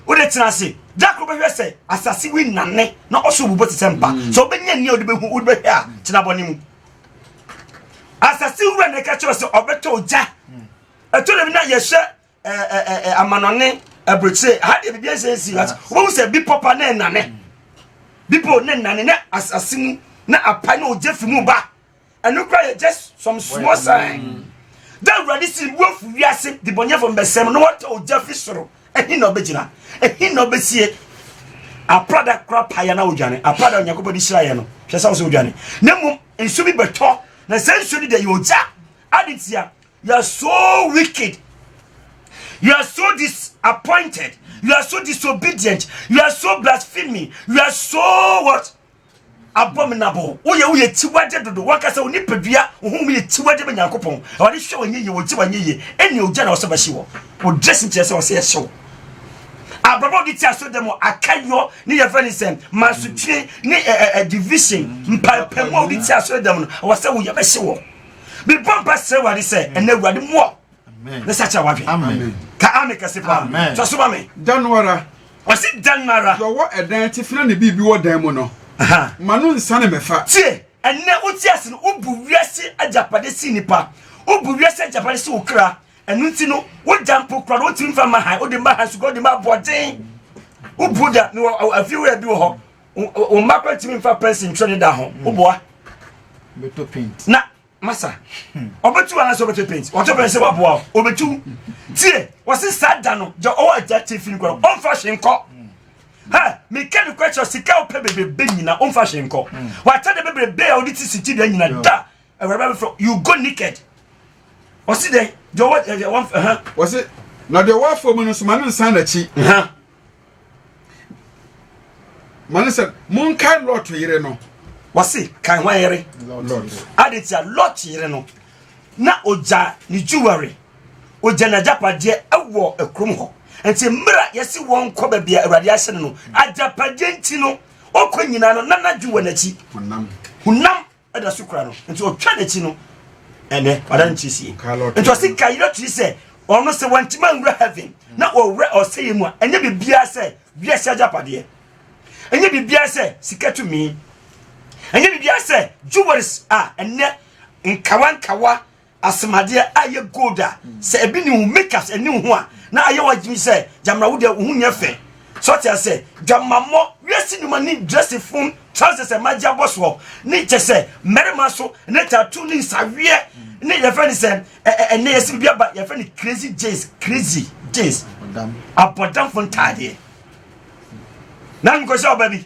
o de tena ase dakoro bɛhwɛ sɛ asase wi nane na ɔso bubɔ te sɛ mpa sɛ ɔbɛnya nea ɔde bɛhu ɔde bɛhwɛ a tena bɔ ne mu asase wura na ɛka kyerɛ sɛ ɔbɛtɔ ogya ɛtɔ dɛm na yɛhwɛ ɛɛ amanɔne aburokyire ha deɛ biribi ɛsɛ esi ati wɔn sɛ bepɔ pa ne nnane bepɔ ne nnane ne asase mu na apa ne ogye fi mu ba ɛno kora yɛ just some small sign dɛ awurade si bu afu wiase de bɔnyɛfo mbɛsɛm na wɔtɔ ogya fi soro ɛhin na ɔbɛgyina ɛhin na ɔbɛsie aprada kora paeɛ na wodwane aprada onyankopɔn de hyira yɛ no hwɛ sɛ wo sɛ wodwane na mmom nsu bi bɛtɔ na sɛ nsuo no deɛ yɛ ogya ade tia You are so wicked. You are so disappointed. You are so disobedient. You are so blasphemy. You are so what? abominable woyɛ woyɛ tiwagye dodo wankasa wo nipadua wo ho mu yɛ tiwagye bɛ nyankopɔn ɔde hwɛ wɔn yeye wɔn ti wɔn yeye ɛnni ogya na ɔsɛ bɛhye wɔ o dressing kyerɛ sɛ ɔsɛ ɛhyew abrabɔ ɔde ti aso dɛm akayɔ ne yɛ fɛn sɛ masotwe ne ɛɛ division mpaepamu a ɔde ti aso dɛm no ɔsɛ woyɛ bɛhye wɔ. mebɔ mpa srɛ awurade sɛ ɛnɛ awurade mmoa ne sa kyerɛ wadwen ka ame kɛse paa twa so ma me da no ara ɔse da no ara deɛ ɔwɔ ɛdan atifi na ne biribi wɔ dan mu no ma no nsa ne mɛfa tie ɛnɛ wote ase no wobu wiase agyapade si nipa wobu wiase agyapade si wo kra ɛno nti no wogya mpo kora no wotumi mfa ma han wode ma han suga wode ma aboɔden wobu da mewɔ afie wura bi wɔ hɔ wo mma kora ntumi mfa pɛnsi ntwerɛ ne da ho hmm. woboa na masa hmm. ɔbɛtu wa anasɛ ɔbɛtɔ paint ɔtɔ paint sɛ waboa o ɔbɛtu tie wɔse saa da no gya ɔwɔ agya te fi no kora ɔmfa hwe nkɔ ha meka ne kora kyerɛ sika wopɛ bebrebe nyina ɔmfa hwe nkɔ hmm. wata de bebrebe a wode te siti da nyina da awuraba bɛfrɛ you go naked ɔse dɛn gya ɔwɔ wɔse na deɛ ɔwɔ afɔ mu no soma no nsan n'akyi mane sɛ monkae lot yere no wɔse kae hwan yere ade tia lot yere no na ogya ne jewelry ogya n'agyapadeɛ ɛwɔ akurom hɔ nti mmerɛ yɛse wɔn kɔ baabi a awurade ahyɛ no no agyapadeɛ nti no ɔkɔ nyinaa no nanadwe wɔ n'akyi honam ɛda so kura no nti ɔtwa n'akyi no ɛnɛ ɔda ne tiri sie nti ɔsi ka yɛrɛ tiri sɛ ɔno sɛ wɔntoma nwura heaven na ɔwura ɔsɛyɛ mu a ɛnyɛ biribiara sɛ wiase agyapadeɛ ɛnyɛ biribiara sɛ sika tumi ɛnyɛ biribiara sɛ jewels a ɛnɛ nkawa nkawa Asɛmadeɛ a ɛyɛ gold a sɛ ebi ne wo makeups ɛne wo ho a na ayɛ w'adwene sɛ gyamina wo deɛ wo ho nyɛ fɛ so ɔte asɛ dwamammɔ wiase nnwuma ne dresse fom trousers ɛma gye abɔ soɔ ne kyɛ sɛ mmarima so ne tattoo ne nsaweɛ ne yɛfɛ ne sɛ ɛnɛ yɛsi bi aba yɛfɛ ne crazy jeans crazy jeans abɔdamfo ntaadeɛ na nkɔhyɛ ɔba bi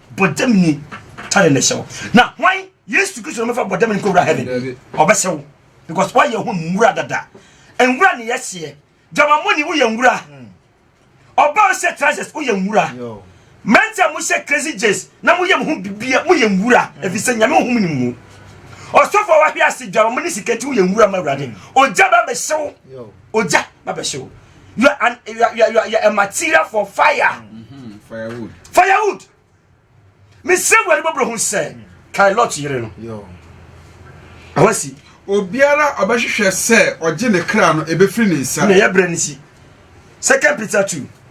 bɔdam ni tare ne sɛw na hwan yesu kristo no mɛfa bɔdam ni kɔwura heaven ɔbɛsɛw because wayɛ ho nwura dada nwura ne yɛseɛ dwamamoni woyɛ nwura ɔba ɔhyɛ trousers woyɛ nwura mmerante a mohyɛ crazy jes na moyɛ mo ho bibia moyɛ nwura ɛfiri sɛ nyame ohum ne mu ɔsɔfo a wahwe ase dwamamoni sika nti woyɛ nwura ma awurade ɔgya bɛbɛhyew Ogya na bɛhye wo. You are an you are, you are, you are a material for fire. Mm-hmm. Firewood. Firewood. Mesrɛ Awurade bɔbrɔ ho sɛ kae Lot yere no. Awasi. Obiara ɔbɛhwehwɛ sɛ ɔgye ne kra no ebefiri ne nsa. Na ɛyɛ brɛ ne si. Second Peter two.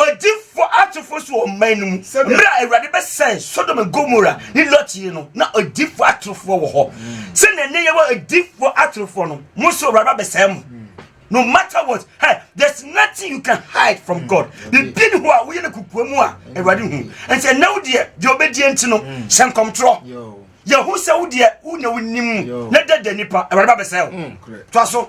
Odifo atofo so wɔ ɔman no mu. Mmerɛ a Awurade bɛsɛe Sodom and Gomora ne Lot yie no, na odifo atorofoɔ wɔ hɔ. Sɛdeɛ nnɛ yɛwɔ odifo atorofoɔ no, mo nso Awurade abɛsɛe mo. No matter what, hey, there's nothing you can hide from God. Biribi ne hɔ a woyɛ no kukua mu a Awurade hu. Ɛnti ɛnɛ wo deɛ deɛ ɔbɛdie nti no, hyɛ nkɔmtorɔ. Yɛhu sɛ wo deɛ wo na wonim na dada nipa Awurade babɛsɛe wo. To aso.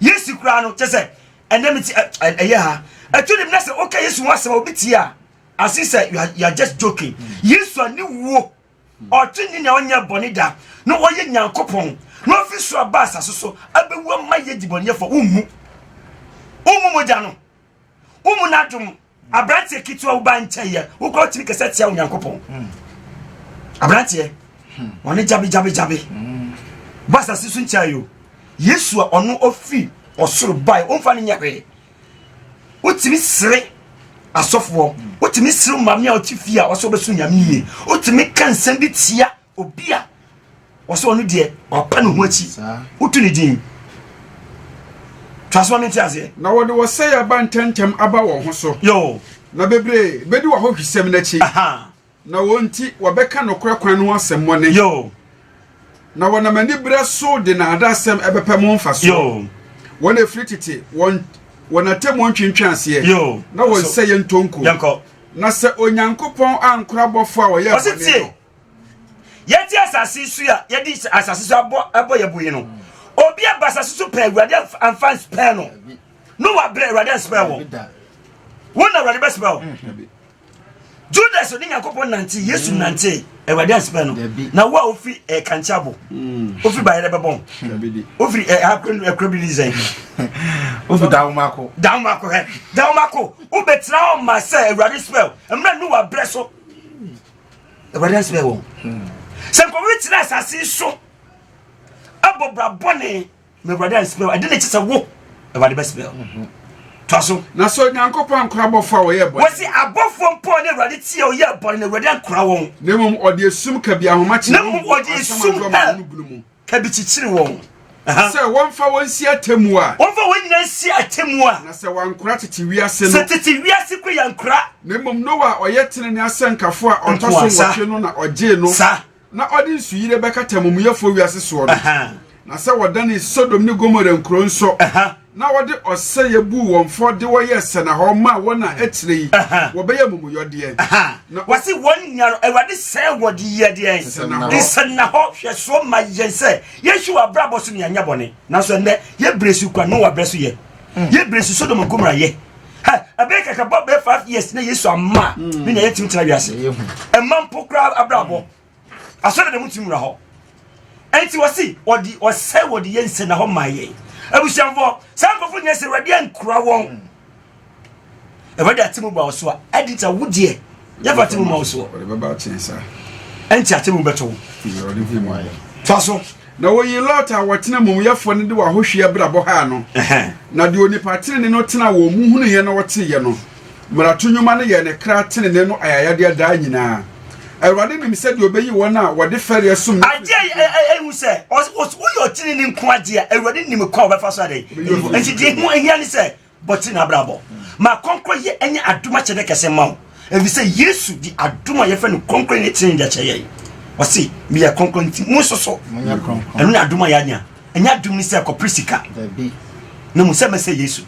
Yesu koraa no kyɛ sɛ ɛnɛ mi ti ɛyɛ ha ɛtu ne mu na sɛ ɔka Yesu ho asɛm a obi tie a ase sɛ you are you are just joking Yesu a ne wuo ɔtwe ne nea ɔnyɛ bɔne da na ɔyɛ Nyankopɔn na ɔfi so aba asase so abɛwu ama yɛ dibɔnyɛfo wonhu wonhu mogya no wonhu n'adom aberanteɛ ketewa wo ba nkyɛeɛ wo kora wotumi kɛsɛ tia onyankopɔn hmm. aberanteɛ hmm. wɔne gyabe hmm. ba asase so nkyɛeɛ o yesu a ɔno ɔfiri ɔsoro bae ɔmfa no nyɛ hwee wotumi sere asɔfoɔ wotumi sere maame a ɔte fie a ɔsɛ ɔbɛso nyame yie wotumi ka nsɛm bi tia Obi a wɔsɛ ɔno deɛ wapa ne ho akyi wotu ne din twaso ma mente aseɛ na wɔde wɔsɛe aba ntɛmntɛm aba wɔn ho so yo na bebree bɛdi w'ahohwisɛm no akyi na wɔn nti wɔbɛka nokorɛ kwan no ho asɛmmɔne yo na wɔnam aniberɛ so de naadaasɛm ɛbɛpɛ mo mfasoɔ wɔn ɛfiri tete wɔn wɔn atemmuo ntwentwɛn aseɛ na wɔn sɛ yɛntɔnku na sɛ onyankopɔn ankora bɔfoɔ a wɔyɛ bɔne no yɛte asase so a yɛde asase so abɔ abɔ yɛ bo yi no obi aba asase so pɛn awurade anfa nspɛn no no wabrɛ awurade anspɛn wɔ wɔn na awurade bɛspɛn wɔ judas ɔne nyankopɔn nante yesu mm. nante awurade anspɛn no na wo a wofi eh, kankyabo mm. wofi bayerɛ bɛbɔn wofiri eh, akora bi ne sɛn wofi dawomako dawomako hɛ dawomako wobɛtena hɔ ma sɛ awurade spɛn mmerɛ ne wabrɛ so awurade asɛbɛ wɔn sɛ nkɔmɔ bi tena asase so abɔ bra bɔne ma awurade ansɛbɛ wɔn ɛde ne kyɛ sɛ wo awurade bɛsɛbɛ wɔn mhm. toa so na sɛ onyankopɔn ankora abɔfoɔ a wɔyɛ bɔne wɔsi abɔfoɔ mpɔ ne awurade tie ɔyɛ bɔne na awurade ankora wɔn na mmom ɔde esum kabi ahomakye na mmom ɔde esum hɛ Ɛbi kyekyere wɔn. Sɛ wɔmfa wɔn nsi atemmu a. Wɔmfa wɔn nyinaa nsi atemmu a. Na sɛ wɔankora tete wiase no. Sɛ tete wiase kɔ yɛankora. Na mmom Noa a ɔyɛ tenenee asɛnkafo a ɔtɔ so nwɔtwe no na ɔgyee no. Sa. Na ɔde nsuyire bɛkata amumuyɛfoɔ wiase soɔ no. Na sɛ wɔdanee Sodom ne Gomora nkuro nso. na wɔde ɔsɛeɛ buu wɔn fɔ de wɔn yɛɛ sɛnahɔ maa wɔn a akyire yi wɔbɛyɛ amumuyɔ deɛ. Na wɔse wɔn nyinaa no Awurade sɛe wɔn de yɛ deɛ nsɛnnahɔ hwɛsoɔ ma yɛn sɛ yɛnhwɛ wɔ abrabɔ so ne yɛanyɛ bɔne. Nanso ɛnnɛ yɛbrɛ su kwa Noa berɛ so yɛ, yɛbrɛ su Sodom ne Gomora yɛ. Ɛbɛyɛ kakra bɔ bɛyɛ five years na Yesu amma ne na yɛntumi tena wiase ɛma mpo koraa abrabɔ. asɔre dɛm ti mura hɔ ɛnti wɔsi wɔde wɔsɛ wɔde yɛ nsɛ na hɔ maa yɛ abusuafoɔ saa nkɔfo nyɛ sɛ awurade ankura wɔn awurade ate mu ba wɔ so a ɛdi nti awo deɛ yɛfa ate mu ma wɔ so ɛnti ate mu bɛtɔ wo fa so na wɔyi lot a wɔtena mumuyɛfoɔ no de wɔahohwie abrabɔ haa no na deɛ onipa tenene no tena wɔn mu hunuiɛ na wɔteeɛ no Mmarato nnwuma no yɛ ne kra tenenee no ayayadeɛ daa nyinaa. Awurade nim sɛdeɛ ɔbɛyi wɔn a wɔde fɛreɛ som no afiri ne fie. Adeɛ ɛhu sɛ, woyɛ ɔtenenee nko adeɛ a, Awurade nim kwan a ɔbɛfa so adɛn ayi hɔ. Enti deɛ ɛho hia ne sɛ, bɔ tenenee abrabɔ. Ma kɔnkɔyɛ nyɛ adom akyɛdeɛ kɛse mma wo, ɛfiri sɛ Yesu de adom a yɛfrɛ no kɔnkɔyɛ ne tenenee de akyɛ yɛn. Ɔse, Meyɛ kronkron, enti monso so. Ɛno ne adom a yɛanya. ɛnyɛ adwom ne sɛ kɔpere sika na mu sɛ mɛsɛ yesu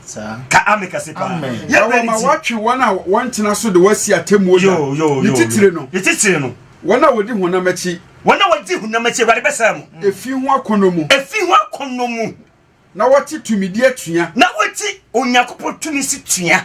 ka ame kɛse paa yɛbrɛ ne ti wɔtwe wɔn a wɔntena so de wɔasi atemmuo da ne titire no ne titire no wɔn a wɔdi honam akyi wɔn a wɔdi honam akyi awurade bɛsɛe mo efi ho akɔnnɔ mu efi ho akɔnnɔ mu na wɔte tumidi atua na wɔte onyankopɔn tumi si tua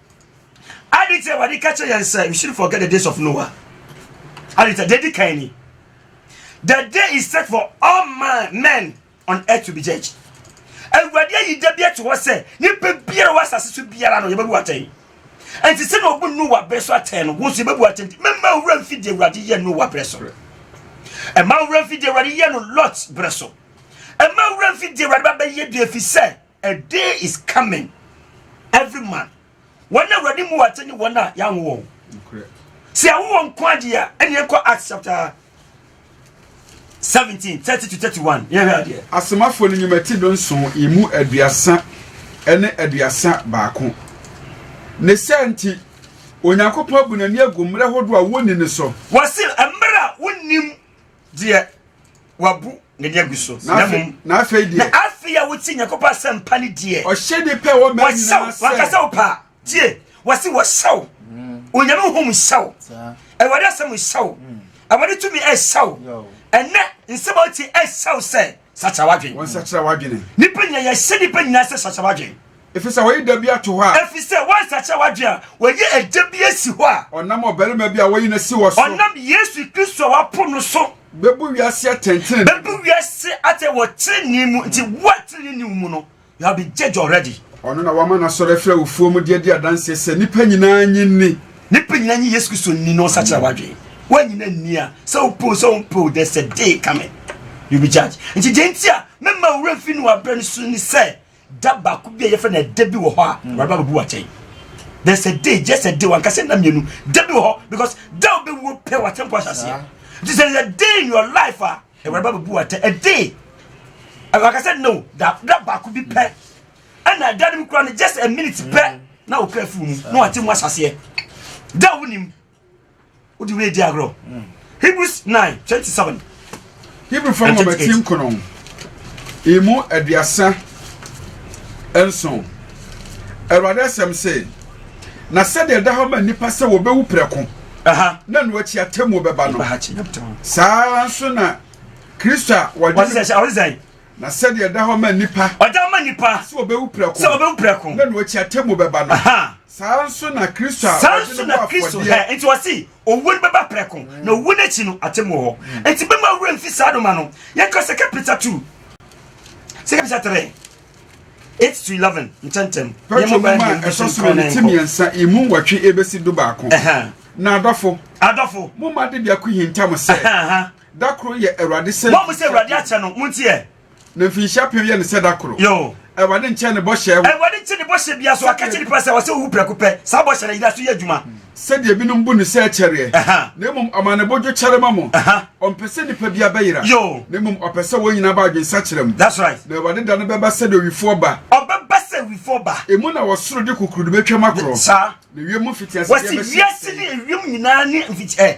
Ade nti Awurade ka kyerɛ yɛn sɛ we should forget the days of Noah. Ade nti deɛ di kan ni. The day is set for all man, men on earth to be judged. Awurade ayi da bi ato hɔ sɛ nipa biara wɔ asase so biara no yɛbɛbu atɛn. Nti sɛ na obu Noah bere so atɛn no, wo nso yɛbɛbu atɛn. Mɛma owura mfi deɛ Awurade yɛ Noah bere so. Ɛma owura mfi deɛ Awurade yɛ no Lot bere so. Ɛma owura mfi deɛ Awurade ba bɛyɛ bi efi sɛ A day is coming every man wɔn na awurade mu wɔate ne wɔn a yɛanwo wɔn sɛ yɛwo wɔn nko adeɛ a ɛne ɛkɔ acts chapter 17 30 to 31 yɛhwɛ adeɛ asomafoɔ no nnwumati do nson ɛmu aduasa ne aduasa baako ne sɛ nti onyankopɔn abu n'ani agu mmerɛ hodoɔ a wɔnni no so wɔse mmerɛ a wonnim deɛ wabu n'ani agu so na mmom na afei deɛ na afei a wotie nyankopɔn asɛmpa ne deɛ ɔhyɛ ne pɛ wɔ mmaa nyinaa sɛ wakasa wo paa tie wɔse wɔhyɛw mm. onyame honhom nhyɛw awurade asɛm nhyɛw mm. awurade tumi ɛhyɛw ɛnɛ nsɛm a wotie ɛhyɛw sɛ sakyera w'adwene. wɔn sakyera w'adwene. nipa nyina yɛhyɛ nipa nyina sɛ sakyera w'adwene. efi sɛ wɔyi da bi ato hɔ a. efi sɛ wɔn sakyera w'adwene a wɔyi ɛda bi asi hɔ a. ɔnam ɔbarima bi a wɔyi n'asi wɔ so. ɔnam yesu kristo a wapo no so. bɛbu wiase atɛntɛn. bɛbu wiase atɛ wɔ tirinii mu nti wo a tirinii mu no. You have been judged already. Ɔno na wama n'asɔre afiri awufoɔ mu de adi adanseɛ sɛ nnipa nyinaa nye nni. Nnipa nyinaa nye Yesu Kristo nni na ɔsakyera w'adwene. Woanyina nni a, sɛ wopoo sɛ wompoo, there's a day coming. You be judged. Nti deɛ nti a mɛma wura mfi no wabrɛ no so ne sɛ da baako bi a yɛfrɛ no ɛda bi wɔ hɔ a mm. wɔreba bɛbu wakyɛn. There's a day, just a day, wankasa nna mmienu, da bi wɔ hɔ because da wobɛwuo pɛ w'atɛmpo ahyɛ aseɛ. Nti there's a day in your life a Awurade ba bɛbu atɛ ɛde ɛwaka sɛ no da da baako bi pɛ ɛna ɛda no mu kura no just a minute pɛ mm. na okura fi mu na wate mu asaseɛ da a wonim wode wei di agorɔ mm. hebrews nine twenty seven. hebrew fam ma bɛti nkono emu aduasa nson awurade asɛm se na sɛdeɛ ɛda hɔ ma nnipa sɛ wɔbɛwu prɛko na ɛno akyi atemmuo bɛba no saa ara nso na kristo a wɔde na sɛdeɛ ɛda hɔ ma nipa ɔda ma nipa sɛ ɔbɛwu prɛko sɛ ɔbɛwu prɛko na ɛno akyi atemmuo bɛba no saa nso na kristo a saa nso na kristo hɛ nti wɔsi owu no bɛba prɛko na owu no akyi no atemmuo hɔ nti bɛma awura mfi saa doma no yɛka sɛ kapita two sɛ kapita three eight to eleven ntɛntɛm. pɛtro mu ma ɛtɔ so ne ti mmiɛnsa emu nwɔtwe ebesi do baako. na adɔfo. adɔfo. mo ma de biako hinta mo sɛ. da koro yɛ awurade sɛ. mo a mo sɛ awurade akyɛ no mo nti yɛ. na mfinhyia pɛn yɛ ne sɛ da koro. yoo. awurade nkyɛn ne bɔhyɛ. awurade nkyɛn ne bɔhyɛ bi aso akɛkyɛ nipa sɛ ɔsɛ owu prɛko pɛ saa bɔhyɛ na yira so yɛ adwuma. sɛdeɛ binom bu no sɛ ɛkyɛreɛ, na mmom ɔma ne bo dwokyɛre ma mo. Ɔmpɛ sɛ nnipa biara bɛyera, na mmom ɔpɛ sɛ wɔn nyinaa ba adwensakyera mu. Na Awurade da no bɛba sɛdeɛ owifoɔ ba. Ɔbɛba sɛ owifoɔ ba. Emu na ɔsoro de kukurudu bɛtwam akorɔ. Saa. Na ewiem mfitiaseɛ bɛhyɛ aseɛ. Wɔsi wiase ne ewiem nyinaa ne mfitiaseɛ.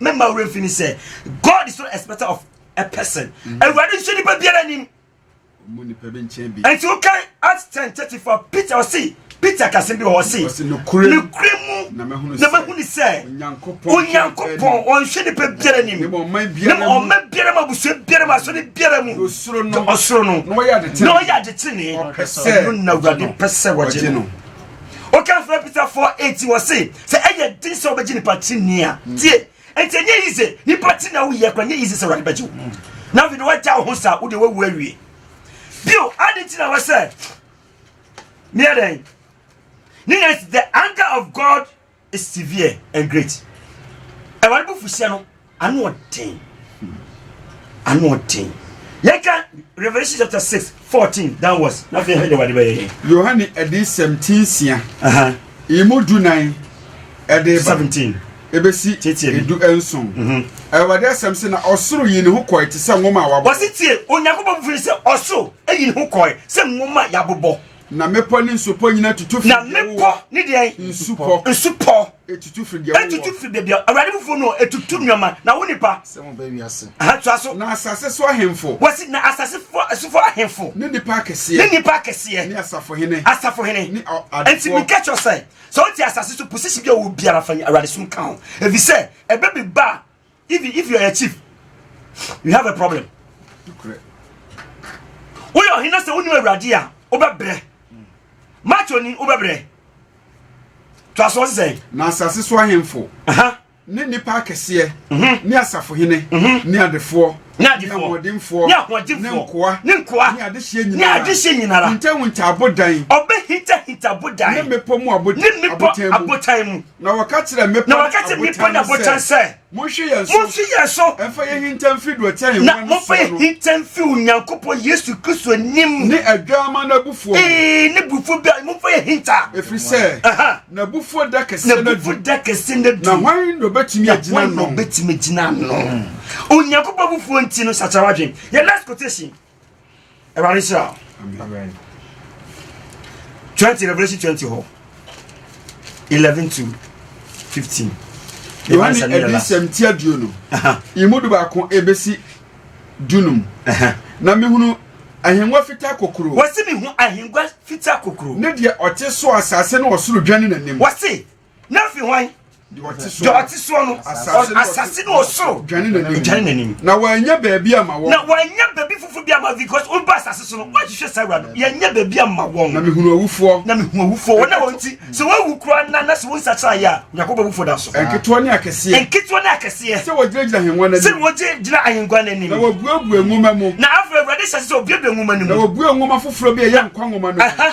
Me ma wura fini sɛ God is not expecter of a person. Mm-hmm. Awurade nso nipa biara nim. Mu nipa bi nkyɛn bi. Nti o kan Acts ten thirty four Peter ɔsi Peter kasi bi wɔ ɔsi. Ɔsi nukuri mu. Nukuri mu. Na mɛhuni sɛ. Na mɛhuni sɛ. Onyankopɔn. Onyankopɔn ɔnhwɛ nipa biara nim. Ne ma ɔman biara mu. Ne ma ɔman biara mu abusua biara mu asɔre biara mu. Osoro no. Osoro no. Na ɔyɛ adetene. Na ɔyɛ adetene. Ɔpɛ sɛ. Ɔno na awurade pɛ sɛ wɔgye no. woka fira peter fɔ eti wɔ se sɛ ɛyɛ den sɛ wobɛgye nipa ti ni a mm. tie nti ɛnyɛ yi se nipa ti na woyɛ kora nyɛ yi se sɛ wurade bɛgye wo mm. na afei de wagya wo ho saa wode wawu awie bio ade nti na wɔ sɛ meɛ dɛn ne yɛ the anger of god severe and great. Awurade bo fuhyɛ no ano ɔden. Ano ɔden. Yɛka Revelation chapter six fourteen downwards na afei hɛ de Awurade bɛyɛ yɛn. Yohane adiyisɛm ti nsia. Emu du nan ɛde ba. Seventeen. Ebesi edu nson. Mhm. Awurade asɛm sɛ na ɔsoro yi ne ho kɔɛ te sɛ nwoma a wabɔ. Wɔsi tie Onyankopɔn firi sɛ ɔsoro eyi ne ho kɔɛ sɛ nwoma yabobɔ. Na mmepɔ ne nsupɔ nyinaa tutu firi deɛ wowɔ. Na mmepɔ ne deɛ? Nsupɔ. Nsupɔ. Etutu firi deɛ wowɔ. Etutu firi baabi a awurade bufuo no etutu nneɛma na wo nipa. Sɛ mo bɛ wiase. Aha tua so. Na asase so ahemfo. Wɔsi na asase fo asufo ahemfo. Ne nipa akɛseɛ. Ne nipa akɛseɛ. Ne asafo hene. Asafo hene. Ne adefoɔ. Nti mi kɛkyɛ sɛ sɛ o ti asase so posisi bi a wɔ biara fa awurade sum kan ho ebi sɛ ɛbɛ bi ba. even if you are a chief you have a problem woyɛ ɔhene sɛ wonim awurade a wobɛbrɛ macho ni wobɛbrɛ to asoɔ se sɛ na asase so ahemfo ne nnipa akɛseɛ mhm. ne asafohene mhm. ne adefoɔ ne ahoɔdenfoɔ ne nkoa ne nkoa ne adehyeɛ nyinara ne adehyeɛ nyinara hintahinta abodan ɔbɛhintahinta abodan ne mmepɔ mu abotan mu Na wɔka kyerɛ mmepɔ ne abotan sɛ, Monhwe yɛn so, monhwe yɛn so, mfa yɛn hinta mfi dɔtɛn wɔn na momfa yɛn hinta mfi Onyankopɔn Yesu Kristo anim, ne Adwamma no abufuo, ee, ne bufuo bi a momfa yɛn hinta, ɛfiri sɛ n'abufuo da kɛseɛ no adu, da kɛseɛ no adu, na hwan na obetumi agyina ano? Na hwan na obetumi agyina ano? Onyankopɔn abufuo nti no, sakyera wadwen. Yɛ next quotation. awurade hyira twenty revolution twenty hɔ eleven to fifteen. yohane adisɛm ti aduo no imu du baako ebesi dunum na mehunu ahengua fitaa kokoro. wɔsi mi hu ahengua fitaa kokoro. ne deɛ ɔte so asase ne ɔsoro dwane n'anim. wɔsi na fi hwan deɛ ɔte soɔ no asase ne ɔsoro dwane n'anim na wanya baabi ama wɔn na wanya baabi foforo bi ama because woba asase so no woahwehwɛ saa awurade yɛnyɛ baabi ama wɔn na mehunu awufoɔ na mehunu awufoɔ wɔn a wɔn ti sɛ wɔawu koraa na na sɛ wonsakyera yɛ a nyankopɔn awufoɔ da so nketewa ne akɛseɛ nketewa ne akɛseɛ sɛ wɔgyinagyina ahengua no anim sɛ wɔgyinagyina ahengua no anim na wɔbuebue nwoma mu na afei awurade hyɛ sɛ obuebue nwoma no mu na wɔbue nwoma foforɔ bi a ɛyɛ nkwa nwoma no mu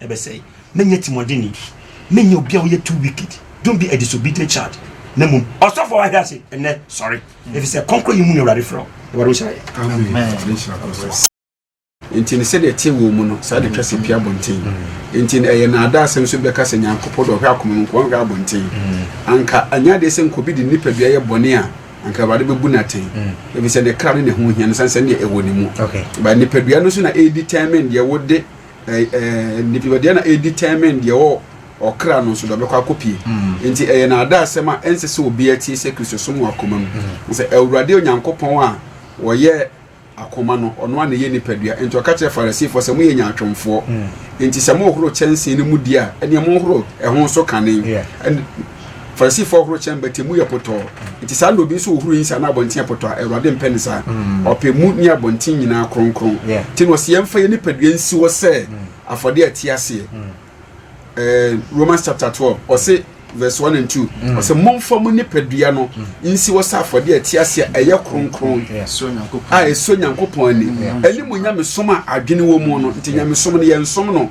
ɛbɛsɛe. Menyɛ timuɔdenne. Menyɛ obi a ɔyɛ too wicked. Don't be a disobedient child. Na mmom, ɔsɔfo a wahwɛ ase nnɛ, sɔre, efisɛ kɔnkɔn yi mu na Awurade frɛ wo. Awurade nhyira yɛn. Amen. Enti no sɛdeɛ ɛteɛ wɔ mu no, saa de twa sɛ pia abɔnten. Enti no ɛyɛ naadaa asɛm nso bɛka sɛ Nyankopɔn de ɔhwɛ akoma mu nko, ɔnhwɛ abɔnten. Anka anyɛ adeɛ sɛ nka obi de nipadua yɛ bɔne a, anka Awurade bɛbu no atɛn, ɛfiri sɛ ne kra ne ne ho hia no sane sɛ ne deɛ ɛwɔ ne mu. Ba nipadua no so na ɛredi tɛmmen deɛ wode nipadua na ɛdetermine deɛ wɔ ɔkra no nso deɛ ɔbɛkɔ akɔpie mm. nti ɛyɛ naadaasɛm a ɛnsɛ sɛ obiara tie sɛ kristosom wɔ akoma mu mm. sɛ awurade onyankopɔn a wɔyɛ akoma no ɔno a na ɛyɛ nipadua nti ɔka kyerɛ farisifoɔ sɛ moyɛ nyaatwomfoɔ mm. nti sɛ mohoro kyɛnsee no mu di a ɛneɛ mohoro ɛho nso kane farisifo horo kyɛn bɛtɛ mu yɛ pɔtɔɔ nti saa na obi nso wɔ huru yi saa na abɔnten yɛ pɔtɔɔ a awurade mpɛ ne saa mm. ɔpɛ mu ne abɔnten nyinaa kronkron nti na ɔsɛ yɛmfa yɛ nipadua nsi hɔ sɛ mm. afɔde a ɛte aseɛ mm. eh, romans chapter twelve ɔsɛ verse one and two ɔsɛ momfa mu nipadua no nsi hɔ sɛ afɔde a ɛte aseɛ ɛyɛ kronkron a ɛsɔ nyankopɔn ani ɛne mu nyamesom a adwene wɔ mu no nti nyamesom no yɛnsom no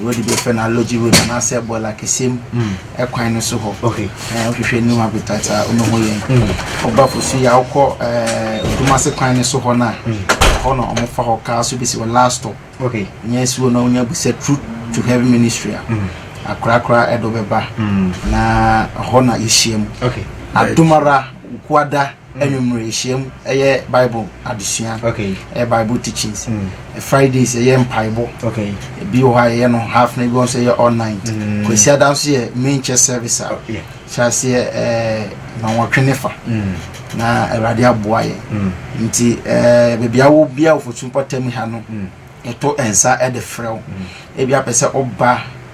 Road bi yɛfrɛ no Alogye Road anaasɛ Bɔɔla Kɛseɛ mu kwan no so hɔ. Wohwehwɛ New Habitat a, wobɛhu yɛn. Woba Fosu yɛ a, wokɔ Odumase kwan no so hɔ no a, hɔ na wɔfa hɔ kaa so bɛsi hɔ last stop. Nyɛ si hɔ na wonya bu sɛ Truth to Heaven Ministry a, akorakora ɛde wobɛba na hɔ na yɛhyia mu. Adomara, Wukuada, Anwummere nhyiam yɛ Bible adesua. Okay. Ɛyɛ Bible teachings. Mm. Fridays ɛyɛ mpaebɔ. Okay. Ebi wɔ hɔ a yɛyɛ no half na ebi wɔ nso yɛ all night. Mm. Kwasi ada nso yɛ main church service a. Oh, yeah. Hyɛ aseɛ ɛɛ nwanwɔtwe ne fa. Mm. Na Awurade aboa yɛ. Mm. Nti ɛɛ beebi a wɔ bia wɔ Fosu mpɔtam ha no. Mm. Yɛto nsa ɛde frɛ wo. Mm. Ebi apɛ sɛ ɔba.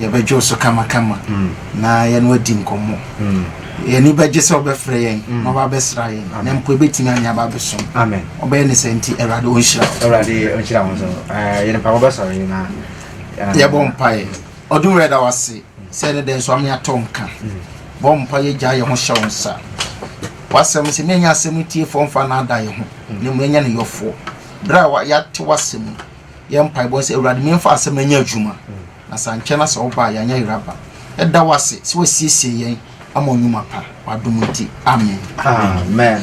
Yɛbɛdwo so kamakama na yɛne wo adi nkɔmmɔ. Yɛn ani bɛgye sɛ wobɛfrɛ yɛn na woaba abɛsra yɛn, na mpo yɛbɛtumi ane aba abɛsom. Wobɛyɛ no saa nti, Awurade ɔnhyira wo. Awurade ɔnhyira wo nso. Yɛn mpaebɔ bɛsɔre na. Yɛbɔ mpaeɛ. Ɔdom Awurade da wo ase sɛ ne dɛn nso ama yɛatɔ nka. Bɔ mpa yɛgya yɛn ho hyɛ wo nsa. W'asɛm sɛ menya asɛm no tiefoɔ mfa naada yɛn ho, na mmom yɛnyɛ ne yɔfoɔ. Berɛ a yɛate w'asɛm yi. yɛ mpaebɔ no sɛ, Awurade, memfa asɛm no nyɛ adwuma, na sɛ ankyɛ na sɛ woba a, yɛanyɛ yerɛ aba. Yɛda wo ase sɛ woasiesie yɛn ama nnwuma pa. W'adom nti, amen. Amen.